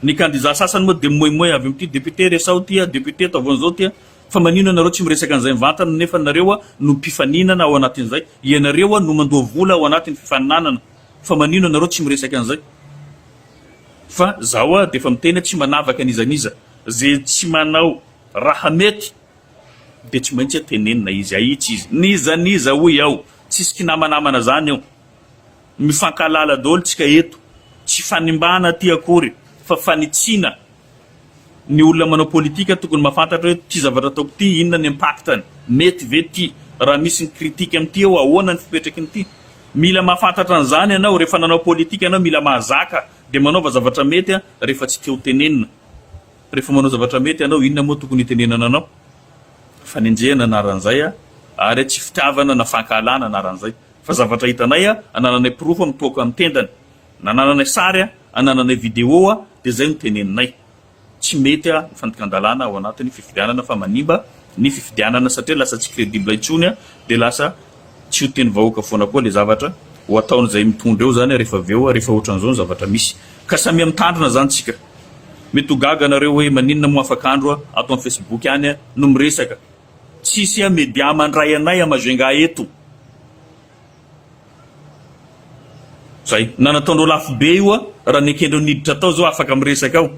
Ny kandida sasany moa dia mimoimoy avy amin'ity député resaho ity a, député ataovy an'izao ity a. Fa maninona nareo tsy miresaka an'izay mivantana nefa nareo no mpifaninana ao anatin'izay. Ianareo no mandoa vola ao anatin'ny fifaninanana fa maninona nareo tsy miresaka an'izay. Fa zaho dia efa miteny tsy manavaka n'iza n'iza. Izay tsy manao raha mety dia tsy maintsy tenenina izy, ahitsy izy. N'iza n'iza hoy aho. Tsisy kinamanamana zany eo. Mifankahalala daholo tsika eto. Tsy fanimbana aty akory fa fanitsiana. Ny olona manao politika tokony mafantatra hoe ty zavatra ataoko ty inona ny impact-ny? Mety ve ty? Raha misy ny critique amty eo ahoana ny fipetraky ny ty? Mila mafantatra anzany ianao rehefa nanao politika ianao mila mahazaka de manaova zavatra mety rehefa tsy te ho tenenina. Rehefa manao zavatra mety ianao, inona moa tokony hitenenana anao? Fanenjehana anaran'izay ary tsy fitiavana na fankahalana anaran'izay. Fa zavatra hitanay, anananay porofo amin'ny toaka ny tendany, na anananay sary, anananay video, dia izay no teneninay. Tsy mety ny fandikan-dalàna ao anatin'ny fifidianana fa manimba ny fifidianana satria lasa tsy credible intsony dia lasa tsy ho teny vahoaka foana koa ilay zavatra ho ataon'izay mitondra eo izany rehefa avy eo rehefa ohatran'izao ny zavatra misy ka samia mitandrina izany isika. Mety ho gaga nareo hoe maninona moa afaka andro a ato am facebook any a no miresaka tsisy a media mandray anay a majunga eto zay na nataondreo lafo be io a raha nekendreo niditra tao zao afaka miresaka ao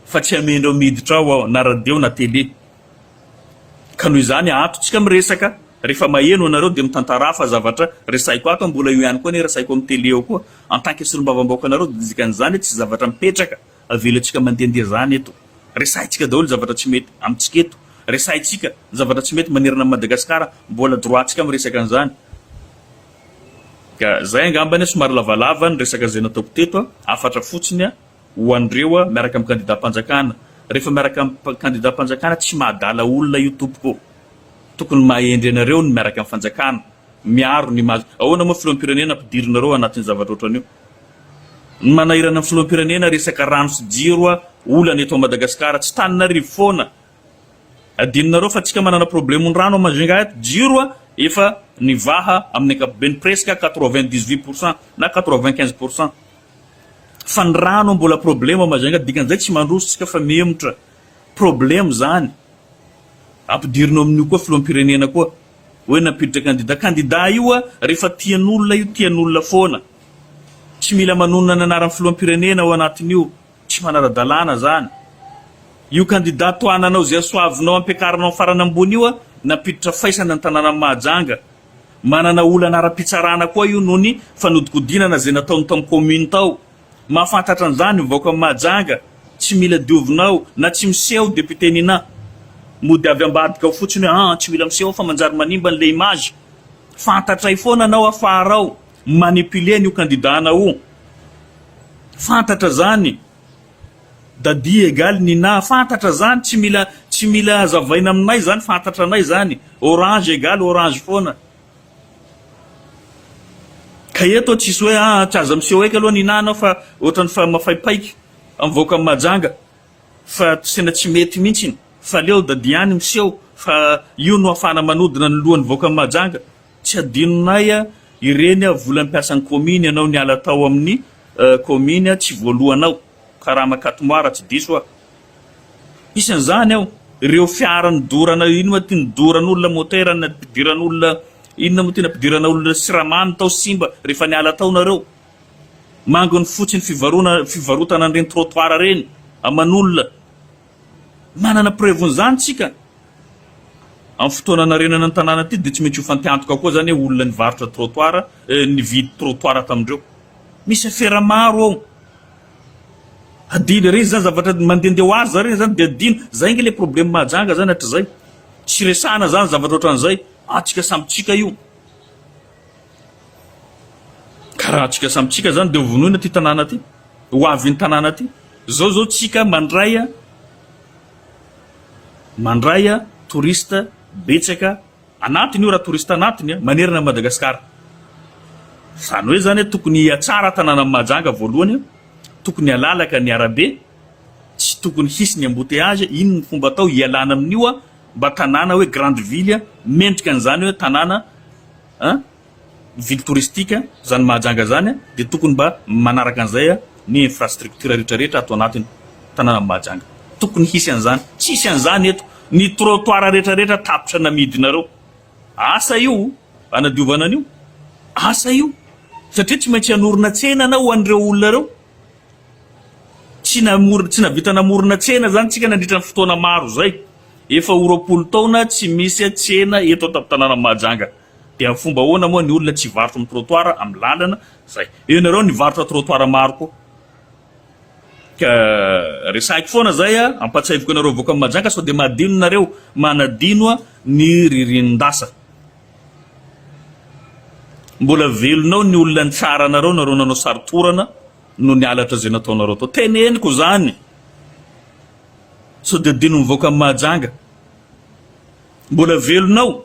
fa tsy amendreo miditra ao ao na radio na tele Ka noho izany ato tsika miresaka rehefa maheno anareo dia mitantarà fa zavatra resahiko ato mbola eo ihany koa anie resahiko amin'ny tele eo koa en tant que solombavambahoaka anareo dia dikan'izany hoe tsy zavatra mipetraka avelantsika mandehandeha zany eto resahintsika daholo zavatra tsy mety amintsika eto resahintsika zavatra tsy mety manerana an'i Madagascar mbola droit ntsika miresaka an'izany ka zay angambany somary lavalava ny resaka zay nataoko teto hafatra fotsiny Ho an'ireo a, miaraka amin'ny kandidam-panjakana. Rehefa miaraka amin'ny kandidam-panjakana tsy mahadala olona io tompoko ô. Tokony mahendry anareo ny miaraka amin'ny fanjakana. Miaro ny maha. Ahoana moa filoham-pirenena ampidirinareo anatin'ny zavatra ohatran'io. Ny manahirana ny filoham-pirenena resaka rano sy jiro a, olana eto Madagascar. Tsy tanin'arivo foana. Adinonareo fa tsika manana problemon'ny rano a Majunga eto. Jiro a, efa nivaha amin'ny ankapobeny presque quatre-vingt-dix-huit pour cent na quatre-vingt-quinze pour cent. Fa ny rano mbola problema Majunga dikan'izay tsy mandroso tsika fa mihemotra. Problema izany. Ampidirina ao amin'io koa filoham-pirenena koa. Hoe nampiditra kandida. Kandida io a rehefa tian'olona io tian'olona foana. Tsy mila manonona ny anaran'ny filoham-pirenena ao anatin'io. Tsy manara-dalàna izany. Io kandida tohananao izay soavinao ampiakarinao amin'ny farany ambony io a nampiditra faisana ny tanànan'i Mahajanga. Manana olana ara-pitsarana koa io noho ny fanodikodinana izay nataony tao amin'ny kaominina tao. Mahafantatra an'izany ny vahoakan'i Mahajanga, tsy mila diovina ao na tsy miseho député Nina. Mody avy ambadika ao fotsiny hoe an, tsy mila miseho ao fa manjary manimba an'ilay image. Fantatray foana anao afarao, manipuler an'io candidat-nao io. Fantatra izany. Daddy egal ny na fantatra zany tsy mila tsy mila azavaina aminay zany fantatra anay zany orange egal orange foana ka eto tsisy hoe aa tsy aza miseho eky aloha Nina anao fa otrany fa mafaipaika mivoaka am Mahajanga fa tena tsy mety mintsiny fa aleo daddy ihany miseho fa io no afahana manodina ny lohany mivoaka am Mahajanga Tsy adinonay ireny vola mpiasan'ny kaominy ianao niala tao amin'ny kaominy tsy voaloanao karama Catmoi raha tsy diso aho. Isan'izany ao ireo fiara nidorana inona moa ty nidoran'olona motera nampidiran'olona inona moa ty nampidirana olona siramamy tao simba rehefa niala tao nareo. Mangony fotsiny fivarotana an'ireny trottoir ireny aman'olona Manana preuve n'izany tsika. Am fotoana anarenana ny tanàna ity dia tsy maintsy ho fanteantoka koa zany hoe olona nivarotra trottoir eh, nividy trottoir tamindreo. Misy afera maro ao. Adino re zany zavatra mandende ho azy zareo zany dia adino. Zay ange le probleme Mahajanga zany hatrizay. Tsy resahana zany zavatra otran'izay. Antsika samy tsika io. Ka raha antsika samy tsika izany dia hovonoina ity tanàna ity, ho avy iny tanàna ity. Izao izao tsika mandray mandray touriste betsaka anatiny io raha touriste anatiny manerana an'i Madagasikara. Izany hoe izany tokony hihatsara tanànan'i Mahajanga voalohany, tokony halalaka ny arabe, tsy tokony hisy ny embouteillage, inona ny fomba atao hialana amin'io mba tanàna hoe grande ville mendrika an'izany hoe tanàna An! Ny ville touristique zany Mahajanga zany dia tokony mba manaraka an'izay ny infrastructure rehetra rehetra ato anatiny tanànan'i Mahajanga. Tokony hisy an'izany. Tsisy an'izany eto. Ny trottoir rehetra rehetra tapitra namidinareo. Asa io hanadiovana an'io. Asa io. Satria tsy maintsy hanorina tsena anao ho an'ireo olona ireo. Tsy namorona, tsy nahavita namorona tsena izany isika nandritra ny fotoana maro izay. Efa ho roapolo taona tsy misy tsena eto an-tampon-tanànan'i Mahajanga. Dia amin'ny fomba ahoana moa ny olona tsy hivarotra amin'ny trottoir, amin'ny lalana izay. Eo ianareo ny hivarotra trottoir maro koa. Ka resahiko foana izay, ampahatsiahiviko anareo vahoakan'i Mahajanga sao dia mahadino nareo, manadino ny ririnin-dasa. Mbola velona ao ny olona nitsara anareo nareo nanao sary torana no ny halatra izay nataonareo tao. Teneniko izany. Sao dia adinon'ny vahoaka Mahajanga. Mbola velona ao.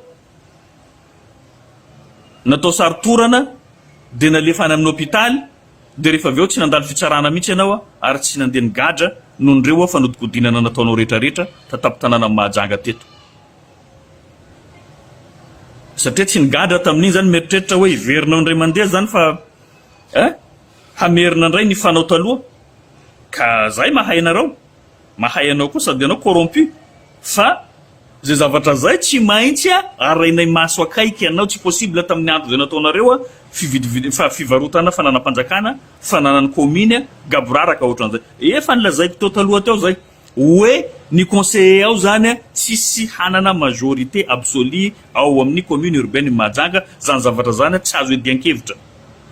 Natao sary torana dia nalefa any amin'ny hôpitaly dia rehefa avy eo tsy nandalo fitsarana mihitsy ianao ary tsy nandeha nigadra noho ireo fanodinkodinana nataonao rehetra rehetra tatapon-tanànan'i Mahajanga teto. Satria tsy nigadra tamin'iny izany, mieritreritra hoe hiverina ao indray mandeha izany fa eh, hamerina indray ny fanao taloha. Ka izay mahay anareo, mahay anao koa sady ianao corrompu fa izay zavatra izay tsy maintsy arahinay maso akaiky anao, tsy possible tamin'ny andro izay nataonareo fividivid, fa fivarotana fananam-panjakana, fananan'ny commune, gaboraraka ohatran'izay. Efa nilazaiko teo taloha teo izay. Oe ny conseiller ao zany tsisy hanana majorité absolue ao amin'ny commune urbaine ny Mahajanga, zany zavatra zany tsy azo iadian-kevitra.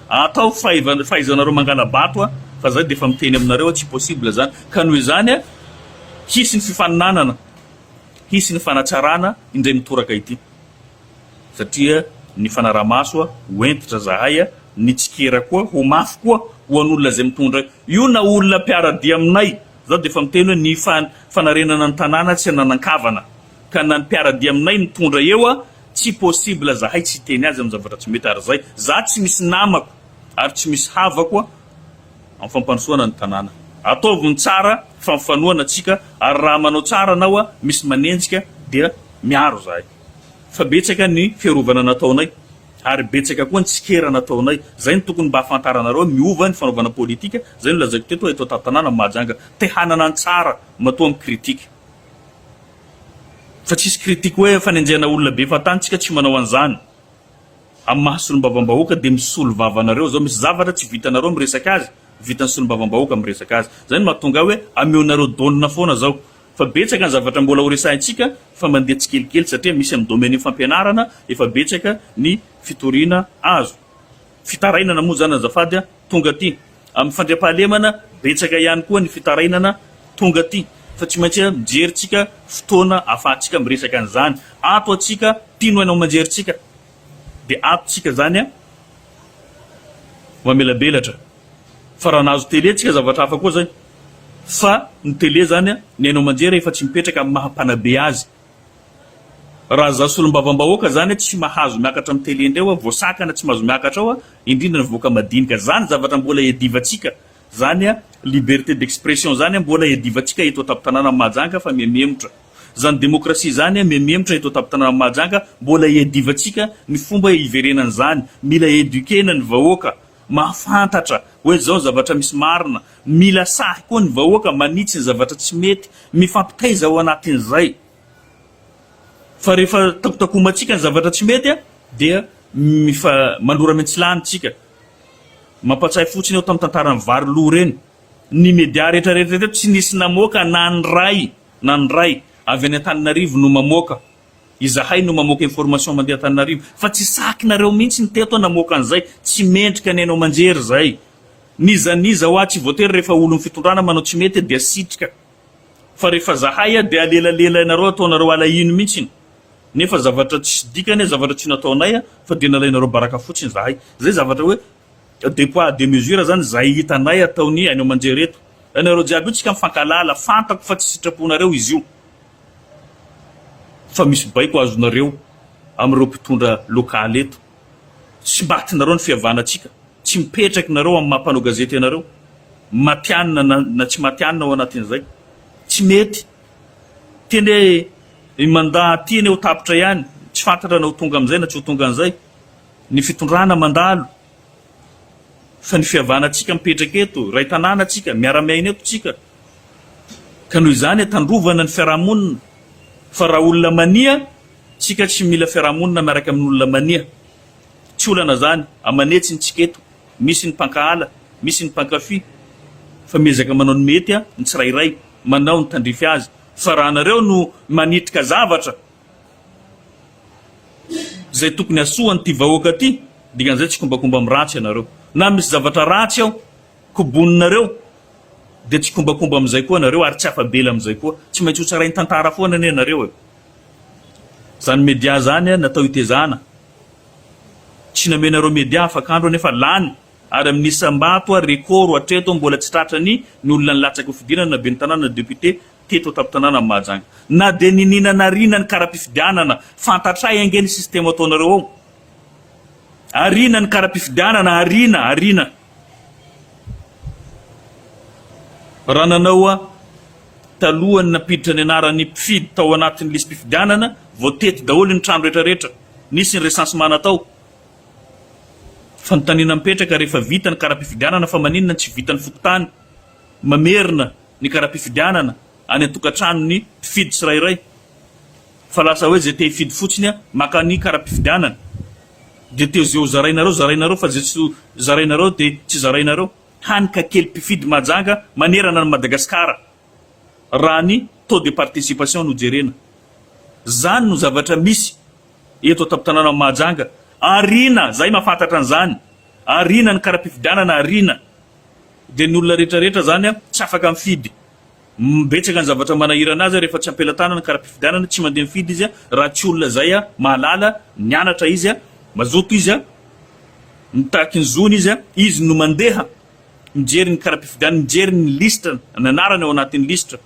Ataovy fa efa fahaizanareo mangala-bato fa zay dia efa miteny aminareo tsy possible zany ka noho izany hisy ny fifaninanana, hisy ny fanatsarana indray mitoraka ity satria ny fanarahamaso ho hentitra zahay, ny tsikera koa ho mafy koa ho an'olona izay mitondra io na olona mpiara-dia aminay. Izaho dia efa miteny hoe ny fanarenana ny tanàna tsy ananan-kavana ka na ny mpiara-dia aminay mitondra eo a, tsy possible zahay tsy hiteny azy amin'ny zavatra tsy mety ary izay za tsy misy namako ary tsy misy havako a, amin'ny fampandrosoana ny tanàna. Ataovy ny tsara fa mifanohana antsika ary raha manao tsara anao a, misy manenjika dia miaro zahay fa betsaka ny fiarovana nataonay. Ary betsaka koa ny tsikera nataonay. Zay no tokony mba afantaranareo hoe miova ny fanaovana politika, zay no lazaiko teto hoe eto Antantanàna, Mahajanga, te hanana ny tsara, matoa mi-critique. Fa tsisy critique hoe fanenjehana olona be efa tany, tsika tsy manao an'zany. Amin'ny maha solombavambahoaka dia misolo vava anareo zao, misy zavatra tsy vitanareo miresaka azy, vitan'ny solombavambahoaka miresaka azy. Zay no mahatonga ahy hoe ameonareo dônina foana zao. Fa betsaka ny zavatra mbola ho resahintsika fa mandeha tsikelikely satria misy amin'ny domaine fampianarana efa betsaka ny fitoriana azo. Fitarainana moa izany azafady tonga aty. Amin'ny fandriampahalemana betsaka ihany koa ny fitarainana tonga aty fa tsy maintsy mijery tsika fotoana ahafahantsika miresaka an'izany. Ato atsika mpino haino aman-jery tsika dia ato tsika izany mamelabelatra. Fa raha nahazo tele tsika zavatra hafa koa zay fa ny tele zany a ny haino aman-jery efa tsy mipetraka amin'ny maha mpanabe azy. Raha za solombavambahoaka zany a tsy mahazo miakatra amin'ny tele indray hoa voasakana tsy mahazo miakatra ao a indrindra ny vahoaka madinika zany zavatra mbola iadivantsika zany a liberté d'expression zany a mbola iadivantsika eto an-tampon-tanànan'i Mahajanga fa mihamemotra zany démocratie zany a mihamemotra eto an-tampon-tanànan'i Mahajanga mbola iadivantsika ny fomba iverenan'izany mila eduquer-na ny vahoaka Mahafantatra hoe izao zavatra misy marina, mila sahy koa ny vahoaka, manitsy ny zavatra tsy mety, mifampitaiza ao anatin'izay. Fa rehefa takotakomantsika ny zavatra tsy mety dia mifa manora miantsilany tsika. Mampatsiahy fotsiny aho tamin'ny tantaran'ny vary lo ireny. Ny media rehetra rehetra teto tsy nisy namoaka na ny ray na ny ray avy any Antananarivo no mamoaka Izahay no mamoaka information mandeha Antananarivo fa tsy sakinareo mihintsy ny teto namoaka an'izay, tsy mendrika ny haino aman-jery izay. N'iza n'iza hoa tsy voatery rehefa olon'ny fitondrana manao tsy mety dia sitrika fa rehefa zahay dia alelalelanareo ataonareo alahino mihintsy nefa zavatra tsisy dikany zavatra tsy nataonay fa dia nalainareo baraka fotsiny zahay. Izay zavatra hoe deux poids deux mesures izany izay hitanay ataon'ny haino aman-jery eto. Ianareo jiaby io tsika mifankahalala, fantako fa tsy sitraponareo izy io. fa misy baiko azonareo amin'ireo mpitondra local eto, tsy matinareo ny fihavanantsika, tsy mipetraka ianareo amin'ny maha mpanao gazety anareo, matianina na tsy matianina ao anatin'izay, tsy mety, teny hoe i mandat aty anie ho tapitra ihany, tsy fantatranao ho tonga amin'izay na tsy ho tonga an'izay, ny fitondrana mandalo. Fa ny fihavanantsika mipetraka eto, iray tanàna tsika, miara-miaina eto tsika. Ka noho izany atandrovana ny fiarahamonina. Fa raha olona mania, tsika tsy mila fiarahamonina miaraka amin'ny olona mania. Tsy olana izany, aman'hetsiny tsika eto. Misy ny mpankahala, misy ny mpankafy. Fa miezaka manao ny mety ny tsirairay, manao ny tandrify azy. Fa raha anareo no manitrika zavatra, Izay tokony hasoa an'ity vahoaka ity, dikan'izay tsy kombakomba amin'ny ratsy ianareo. Na misy zavatra ratsy ao, koboninareo, dia tsy kombakomba amin'izay koa ianareo ary tsy afa-bela amin'izay koa. Tsy maintsy hotsarain'ny tantara foana anie ianareo e! Izany media izany natao hitezana. Tsy namenareo media afak'andro anefa lany ary amin'ny isam-bato, record hatreto mbola tsy tratran'ny ny olona nilatsaka ho fidirana na ben'ny tanàna na député teto an-tampon-tanànan'i Mahajanga. Na dia niniana nariana ny kara-pifidianana, fantatray ange ny système ataonareo ao. Ariana ny kara-pifidianana, ariana, ariana. Raha nanao taloha ny nampiditra ny anaran'ny mpifidy tao anatin'ny lisi-pifidianana, voatety daholo ny trano rehetra rehetra, nisy ny recensement-na tao. Fanontaniana mipetraka, rehefa vita ny kara-pifidianana fa maninona no tsy vitan'ny fokontany? mamerina ny kara-pifidianana any an-tokantranon'ny mpifidy tsirairay fa lasa hoe zay te hifidy fotsiny a maka ny kara-pifidianana de te zeo zarainareo zarainareo fa zay tsy zarainareo de tsy zarainareo hany ka kely mpifidy mahajanga manerana an'i Madagasikara raha ny taux de participation no jerena. Zany no zavatra misy eto an-tampon-tanàna Mahajanga. Ariana, zahay mahafantatra an'izany. Ariana ny kara-pifidianana, ariana. Dia ny olona rehetra rehetra izany an, tsy afaka mifidy. Betsaka ny zavatra manahirana azy rehefa tsy am-pelatanana ny kara-pifidianana, tsy mandeha mifidy izy raha tsy olona izay an, mahalala, nianatra izy an, mazoto izy an, mitaky ny zony izy an, izy no mandeha mijery ny kara-pifidianana, mijery ny lisitra, ny anarany ao anatin'ny lisitra.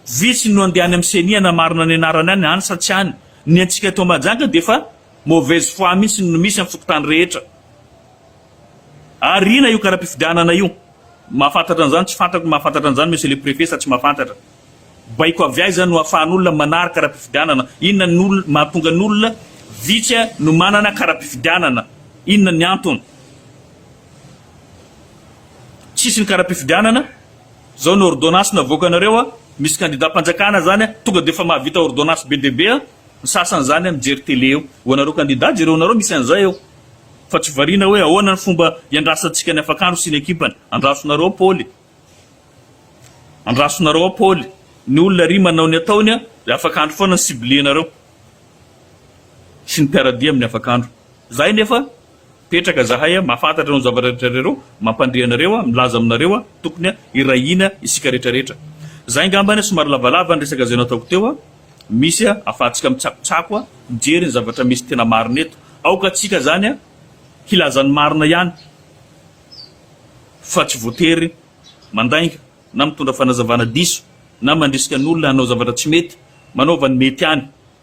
Vitsy no andeha any amin'ny ceni hanamarina ny anarany any, any sa tsy any. Ny antsika eto Mahajanga dia efa mauvaise foi mihitsy no misy amin'ny fokontany rehetra. Ary ina io karapifidianana io? Mahafantatra an'izany tsy fantatro ny mahafantatra an'izany monsieur le préfet sa tsy mahafantatra? Baiko avy aiza no afahan'olona manary karapifidianana? Inona ny olona mahatonga ny olona vitsy no manana karapifidianana? Inona ny antony? Tsisy ny karapifidianana? Zao ny ordonnance navoakanareo a, misy candidat mpanjakana zany a, tonga de efa mahavita ordonnance be dia be a, ny sasany zany a mijery télé eo, ho anareo candidat jereonareo misy an'izay eo. Fa tsy variana hoe ahoana ny fomba iandrasantsika ny afakandro sy ny ekipany. Andrasonareo ao Paoly. Andrasonareo ao Paoly. Ny olona ery manao ny ataony an, dia afakandro foana ny cible-nareo. Sy ny mpiara-dia amin'ny afakandro. Izahay nefa, mipetraka izahay an, mahafantatra ireo zavatra rehetra ireo, mampandre anareo an, milaza aminareo an, tokony an, hiray hina isika rehetra rehetra. Izay angamba an, somary lavalava ny resaka izay nataoko teo an. Misy a afahantsika mitsakotsako a mijery ny zavatra misy tena marina eto. Aoka tsika zany a hilaza ny marina ihany fa tsy voatery mandainga na mitondra fanazavana diso na mandrisika ny olona hanao zavatra tsy mety. Manaova ny mety ihany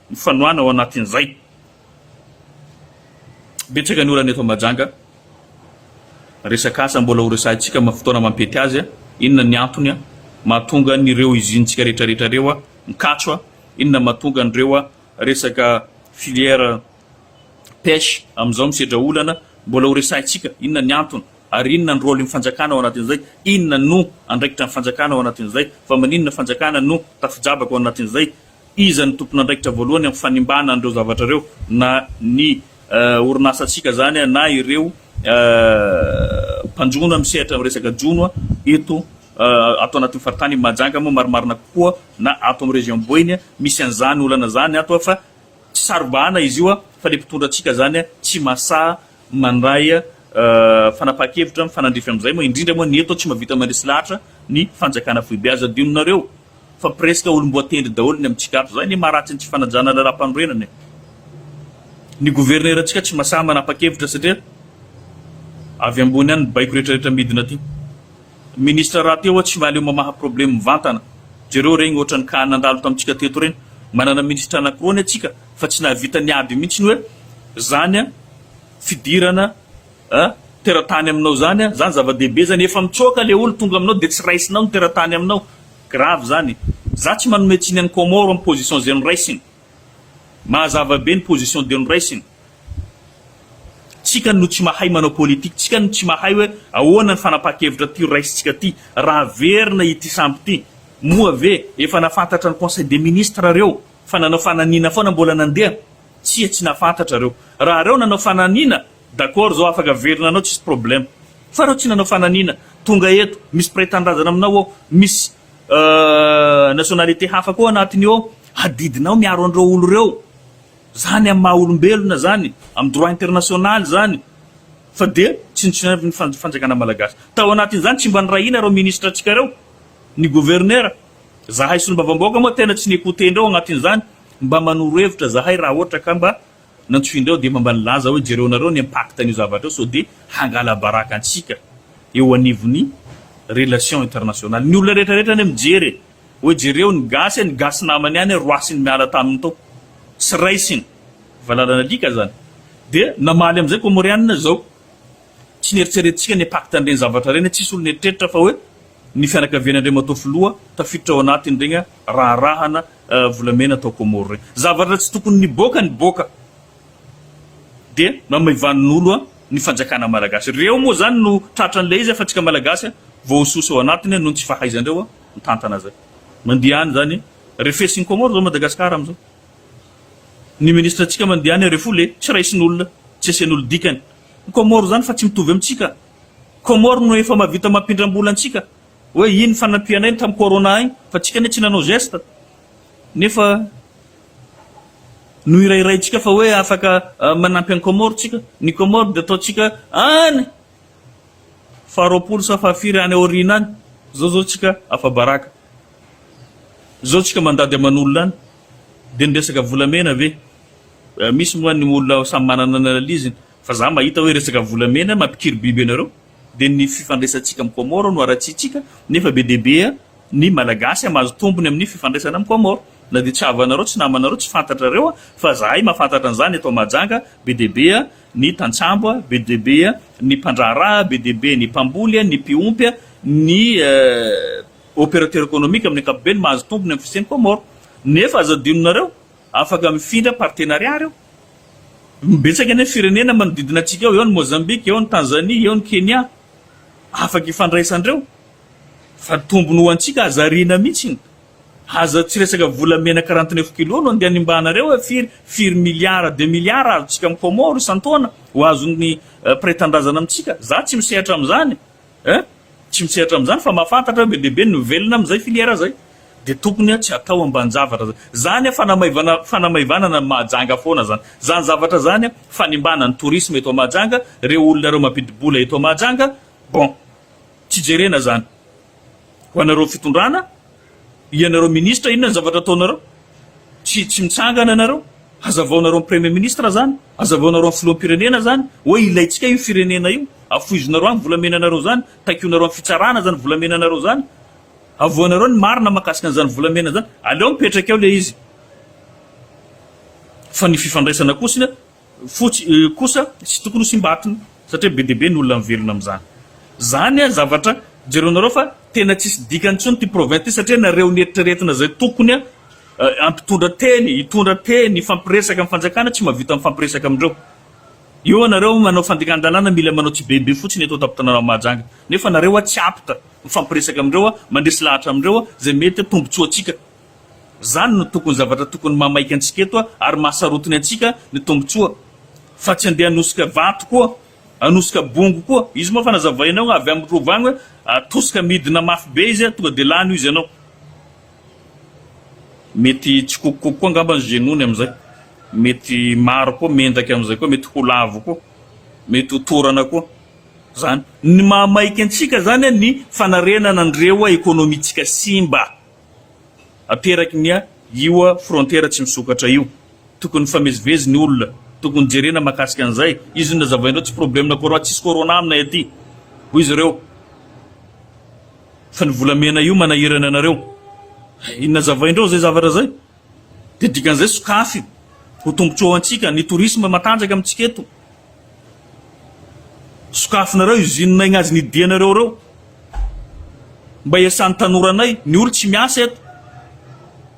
ny fanohana ao anatin'izay. Betsaka ny olana eto Mahajanga, resaka asa mbola ho resahintsika amin'ny fotoana mampety azy. Inona ny antony mahatonga an'ireo izintsika rehetrarehetra ireo mikatso? Inona mahatonga an'ireo resaka filière pêche amin'izao misedra olana? Mbola ho resahintsika inona ny antony ary inona ny rôlin'ny fanjakana ao anatin'izay? Inona no andraikitra ny fanjakana ao anatin'izay? Fa maninona fanjakana no tafi-jabaka ao anatin'izay? Iza no tompon'andraikitra voalohany amin'ny fanimbana an'ireo zavatra ireo? Na ny orinasantsika izany na ireo mpanjono misehatra amin'ny resaka jono eto ato anatin'ny faritany Mahajanga moa marimarina kokoa na ato amin'ny région Boeny misy an'izany olana izany ato fa tsy saro-bahana izy io fa ilay mpitondra antsika izany tsy mahasaha mandray fanapahan-kevitra mifanandrify amin'izay moa indrindra moa ny eto tsy mahavita mandresy lahatra ny fanjakana foibe. Aza adinonareo. Fa presque olomboatendry daholo ny amintsika ato. Zay anie maharatsy ny tsy fanajana lalam-panorenana e. Ny governerantsika tsy masaha manapa-kevitra satria avy ambony any ny baiko retraretra midina aty. Ministra rahateo oa tsy mahaleo mamaha probleme mivantana. Jereo regny ohatrany cas nandalo tamintsika teto regny. Manana ministra anakiroa anie tsika fa tsy nahavita niady mintsiny oe zany fidirana a, teratany aminao zany a, zany zava-dehibe zany, efa mitsoaka le olo tonga aminao de tsy raisinao ny teratany aminao, grave zany, za tsy manome tsiny any Comore am position ze noraisiny, mahazava be ny position de noraisiny, tsika no tsy mahay manao politique, tsika no tsy mahay oe ahoana ny fanapaha-kevitra ty raisintsika ty, ra averina ity sambo ty, moa ve efa nafantatra ny conseil des ministres reo fa nanao fananina foana mbola nandeha, tsia tsy nafantatra reo, raha reo nanao fananina, D'accord zao afaka averina anao tsisy problème fa reo tsy nanao fananina tonga eto misy mpiray tanindrazana aminao ao misy nationalité hafa koa anatiny ao hadidinao miaro anreo olo reo zany amy maha olombelona zany amy droit international zany fa dia tsinontsinoina ny fanjakana malagasy tao anatiny zany tsy mba nirahina reo ministre tsika reo ny gouverneur zahay solombavambahoaka moa tena tsy ni-ecoute ndreo anatiny zany mba manoro hevitra zahay raha ohatra ka mba Nantsoindreo aho dia efa mba nilaza hoe jereo nareo ny impact an'io zavatra io sao dia hangalabaraka antsika eo anivon'ny relation internationale. Ny olona rehetra rehetra anie mijery e! Hoe jereo ny gasy e, ny gasy namany ihany e roasiny miala taminy tao. Tsy raisiny. Valalan'alika zany. Dia namaly amin'izay Comorianina zao. Tsy neritreretintsika ny impact an'ireny zavatra ireny, tsisy olona eritreritra fa hoe ny fianakavian'Andriamatoa Filoha tafiditra ao anatin'ireny raharahana volamena atao Comore reny zavatra tsy tokony niboaka niboaka dia mamaivanin'olo ny fanjakana malagasy reo moa zany no tratra an'ilay izy fa tsika malagasy voahososa ao anatiny noho ny tsy fahaizandreo mitantana zay mandeha any zany refesiny Comore zao Madagascar amizao ny ministre tsika mandeha any refu le tsy raisin'olona tsy asian'olo dikany ny Comore zany fa tsy mitovy amitsika Comore no efa mavita mampindrambola antsika Hoe iny fanampianay ny tam corona iny fa tsika anie tsy nanao geste nefa nohirairaintsika fa hoe afaka manampy any Comores tsika, ny Comores dia ataontsika any faha roapolo sa faha firy any aoriana any, zao zao tsika afabaraka, zao tsika mandady aman'olona any dia ny resaka volamena ve, misy moa ny olona samy manana ny analiziny fa za mahita hoe resaka volamena mampikiry biby anareo. Dia ny fifandraisantsika amin'i Comores no haratsiantsika nefa be dia be ny Malagasy a mahazo tombony amin'ny fifandraisana amin'i Comores. Na dia tsy havanareo, tsy namanareo, tsy fantatrareo a, fa zahay mahafantatra an'izany eto Mahajanga, be dia be ny tantsambo a, be dia be ny mpandraharaha a, be dia be ny mpamboly a, ny mpiompy a, ny opérateur économique amin'ny ankapobeny mahazo tombony amin'ny fisian'i Comores. Nefa aza adinonareo, afaka mifindra partenariat reo. Betsaka anie ny firenena manodidina antsika ao, eo ny Mozambika, eo ny Tanzania, eo ny Kenya, afaka ifandraisandreo, fa tombony ho antsika hazariana mitsy, aza tsy resaka vola mena quarante neuf kilos no andeha animbahanareo hoe firy firy milliards de milliards azontsika am Comore isan-taona ho azon'ny mpiray tandrazana amintsika, za tsy misehatra amzany Eh! Tsy mitsehatra amin'izany fa mahafantatra hoe be dia be ny mivelona amin'izay filière izay. Dia tokony tsy atao ambanin-javatra izany. Izany fanamaivana fanamaivanana ny Mahajanga foana izany. Izany zavatra izany fanimbana ny tourisme eto Mahajanga, ireo olona ireo mampidi-bola eto Mahajanga. Bon! Tsy jerena izany. Ho anareo fitondrana Ianareo ministra inona ny zavatra ataonareo? Tsy tsy mitsangana ianareo? Hazavaonareo ny premier ministre zany? Hazavaonareo ny filoham-pirenena zany? Hoe ilaintsika io firenena io? Afoizonareo any volamenanareo zany? Taikionareo amin'ny fitsarana zany volamenanareo zany? Avoanareo ny marina mahakasika an'izany volamena zany? Aleo mipetraka eo le izy fa ny fifandraisana kosnya fotsy kosa tsy tokony ho simba atiny satria be dia be ny olona mivelona amin'izany. Izany an zavatra jereo nareo fa tena tsisy dikany intsony ity province ity satria nareo ny eritreretina izay tokony an ampitondra teny hitondra teny hifampiresaka amin'ny fanjakana tsy mahavita mifampiresaka amindreo eo anareo manao fandikan-dalàna mila manao tsibeibe fotsiny eto an-tampon-tanàna Mahajanga nefa nareo an tsy apta mifampiresaka amindreo an mandresy lahatra amindreo an izay mety an tombontsoantsika Izany no tokony zavatra tokony mahamaika antsika eto ary mahasarotiny antsika ny tombotsoa fa tsy andeha hanosika vato koa, hanosika bongo koa. Izy moa efa nazavaina eo avy amin'ny rova any hoe atosika midina mafy be izy tonga dia lany io izy ianao. Mety tsy kokokoko koa angamba ny genoux-ny amin'izay. Mety maro koa mendaka amin'izay koa, mety ho lavo koa, mety ho torana koa. Izany. Ny mahamaika antsika izany ny fanarenana ny rewa ekonomintsika simba. ateraky ny a io a frontera tsy misokatra io tokony mifamezivezy ny olona tokony jerena makasika an'izay izy io nazavaindreo tsy probleme corona tsisy corona aminay aty hoy izy ireo fa ny volamena io manahirana anareo inona zavaindreo zay zavatra zay Dia dikan'izay sokafy ho tombotsoa ho antsika ny tourisme matanjaka amintsika eto. Sokafinareo usine igny azy nidianareo reo. Mba hiasan'ny tanoranay. Ny olo tsy miasa eto.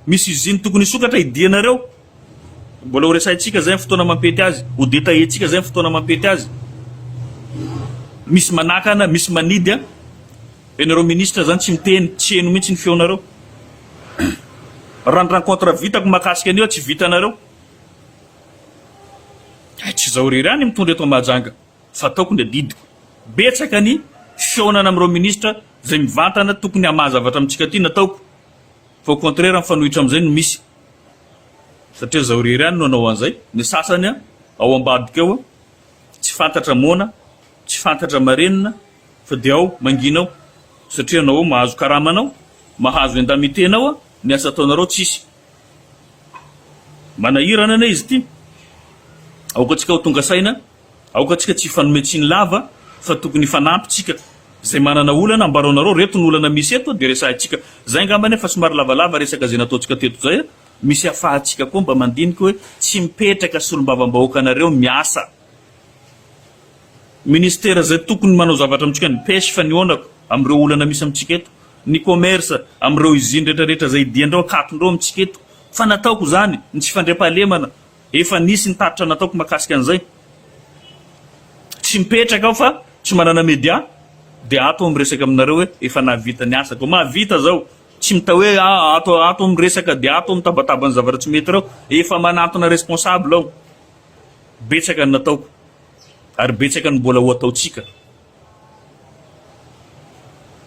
Misy usine tokony hisokatra hidianareo. Mbola ho resahintsika zay am fotoana mampety azy. Ho detailler-tsika zay am fotoana mampety azy. Misy manakana, misy manidy a. Ianareo ministra zany tsy miteny, tsy heno mihitsy ny feonareo. Raha ny rencontre vitako mahakasika an'io tsy vitanareo. Hay tsy izaho irery any mitondra eto Mahajanga fa ataoko ny adidiko. Betsaka ny fihaonana amin'ireo ministra izay mivantana tokony hamaha zavatra amintsika aty nataoko fa au contraire mifanohitra amin'izay no misy. Satria izaho irery any no hanao an'izay, ny sasany ao ambadika ao tsy fantatra moana, tsy fantatra marenina, Fa dia ao mangina ao satria anao ao mahazo karama anao mahazo indemnité anao a ny asa ataonareo tsisy manahirana anie izy ity aoka tsika ho tonga saina aoka tsika tsy hifanome tsiny lava fa tokony hifanampy tsika zay manana olana ambarao nareo reto ny olana misy eto dia resahintsika zay ngamba anie fa somary lavalava resaka zay nataontsika teto zay a misy afahantsika koa mba mandiniky hoe tsy mipetraka solombavambahoaka nareo miasa Ministera izay tokony manao zavatra amintsika ny pêche fa nihaonako amin'ireo olana misy amintsika eto, ny commerce amin'ireo usine retraretra izay hidian-dreo hankatondreo amintsika eto fa nataoko izany ny tsy fandriampahalemana efa nisy ny tatitra nataoko makasika an'izay tsy mipetraka aho fa tsy manana media dia ato aho miresaka aminareo hoe efa nahavita ny asako mahavita izao tsy mita hoe ato aho ato aho miresaka dia ato aho mitabataba ny zavatra tsy mety ireo efa manantona responsable aho Betsaka ny nataoko ary betsaka ny mbola ho ataontsika.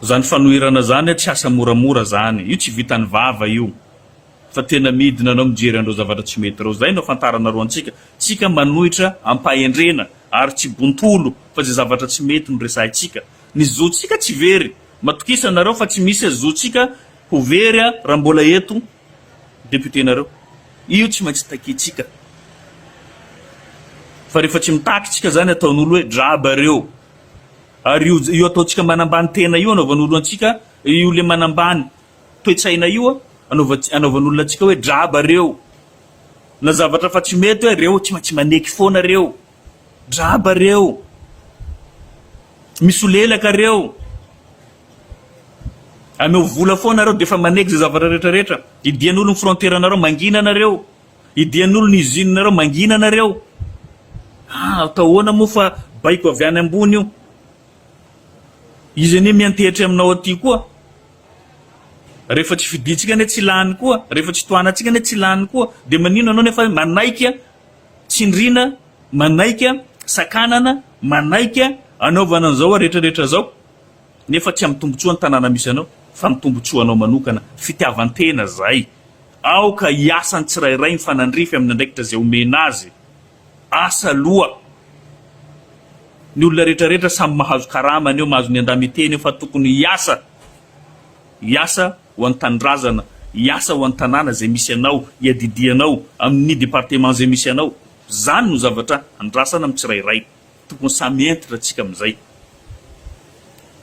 Zany fanoherana zany tsy asa moramora zany. Io tsy vitan'ny vava io fa tena midina anao mijery an'ireo zavatra tsy mety ireo. Zay no afantarana ro antsika. Tsika manohitra ampahendrena ary tsy bontolo fa zay zavatra tsy mety no resahintsika. Ny zontsika tsy very. Matokisa nareo fa tsy misy zontsika ho very raha mbola eto. Député nareo. Io tsy maintsy takiantsika. Fa rehefa tsy mitaky tsika zany ataon'olo hoe draba reo. Ary io io ataontsika manambany tena io anaovan'olo antsika io le manambany toetsaina io anaovantsika anaovan'olona antsika hoe draba reo. Na zavatra fa tsy mety hoe reo tsy maintsy maneky foana reo. Draba reo. Misolelaka reo. Ameo vola foana reo defa manegy ze zavatra rehetra rehetra. Idian'olo ny frontière nareo mangina nareo. Idian'olo ny usine nareo mangina nareo. Ah atao ahoana moa fa baiko avy any ambony io. Izy anie miantehitra aminao aty koa. Rehefa tsy fidintsika anie tsy lany koa. Rehefa tsy tohanantsika anie tsy lany koa. De manino anao nefa manaiky Tsindriana, manaika, sakanana, manaika, anaovana an'izao retraretra izao, nefa tsy amin'ny tombotsoan'ny tanàna misy anao, fa ny tombotsoanao manokana, fitiavan-tena izay. Aoka hiasa ny tsirairay mifanandrify amin'ny andraikitra izay omena azy. Asa aloha. Ny olona retraretra samy mahazo karamany eo, mahazo ny andamiteny eo, fa tokony hiasa, hiasa, ho an'ny tanindrazana, hiasa ho an'ny tanàna izay misy anao, hiadidianao amin'ny département izay misy anao. Izany no zavatra andrasana amin'ny tsirairay. Tokony samy hentitra tsika amin'izay.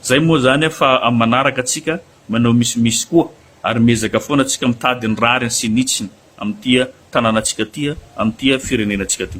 Izay moa izany an, fa amin'ny manaraka tsika manao misimisy koa ary miezaka foana tsika mitady ny rariny sy ny hitsiny amin'ity tanàna tsika ity, amin'ity firenena tsika ity.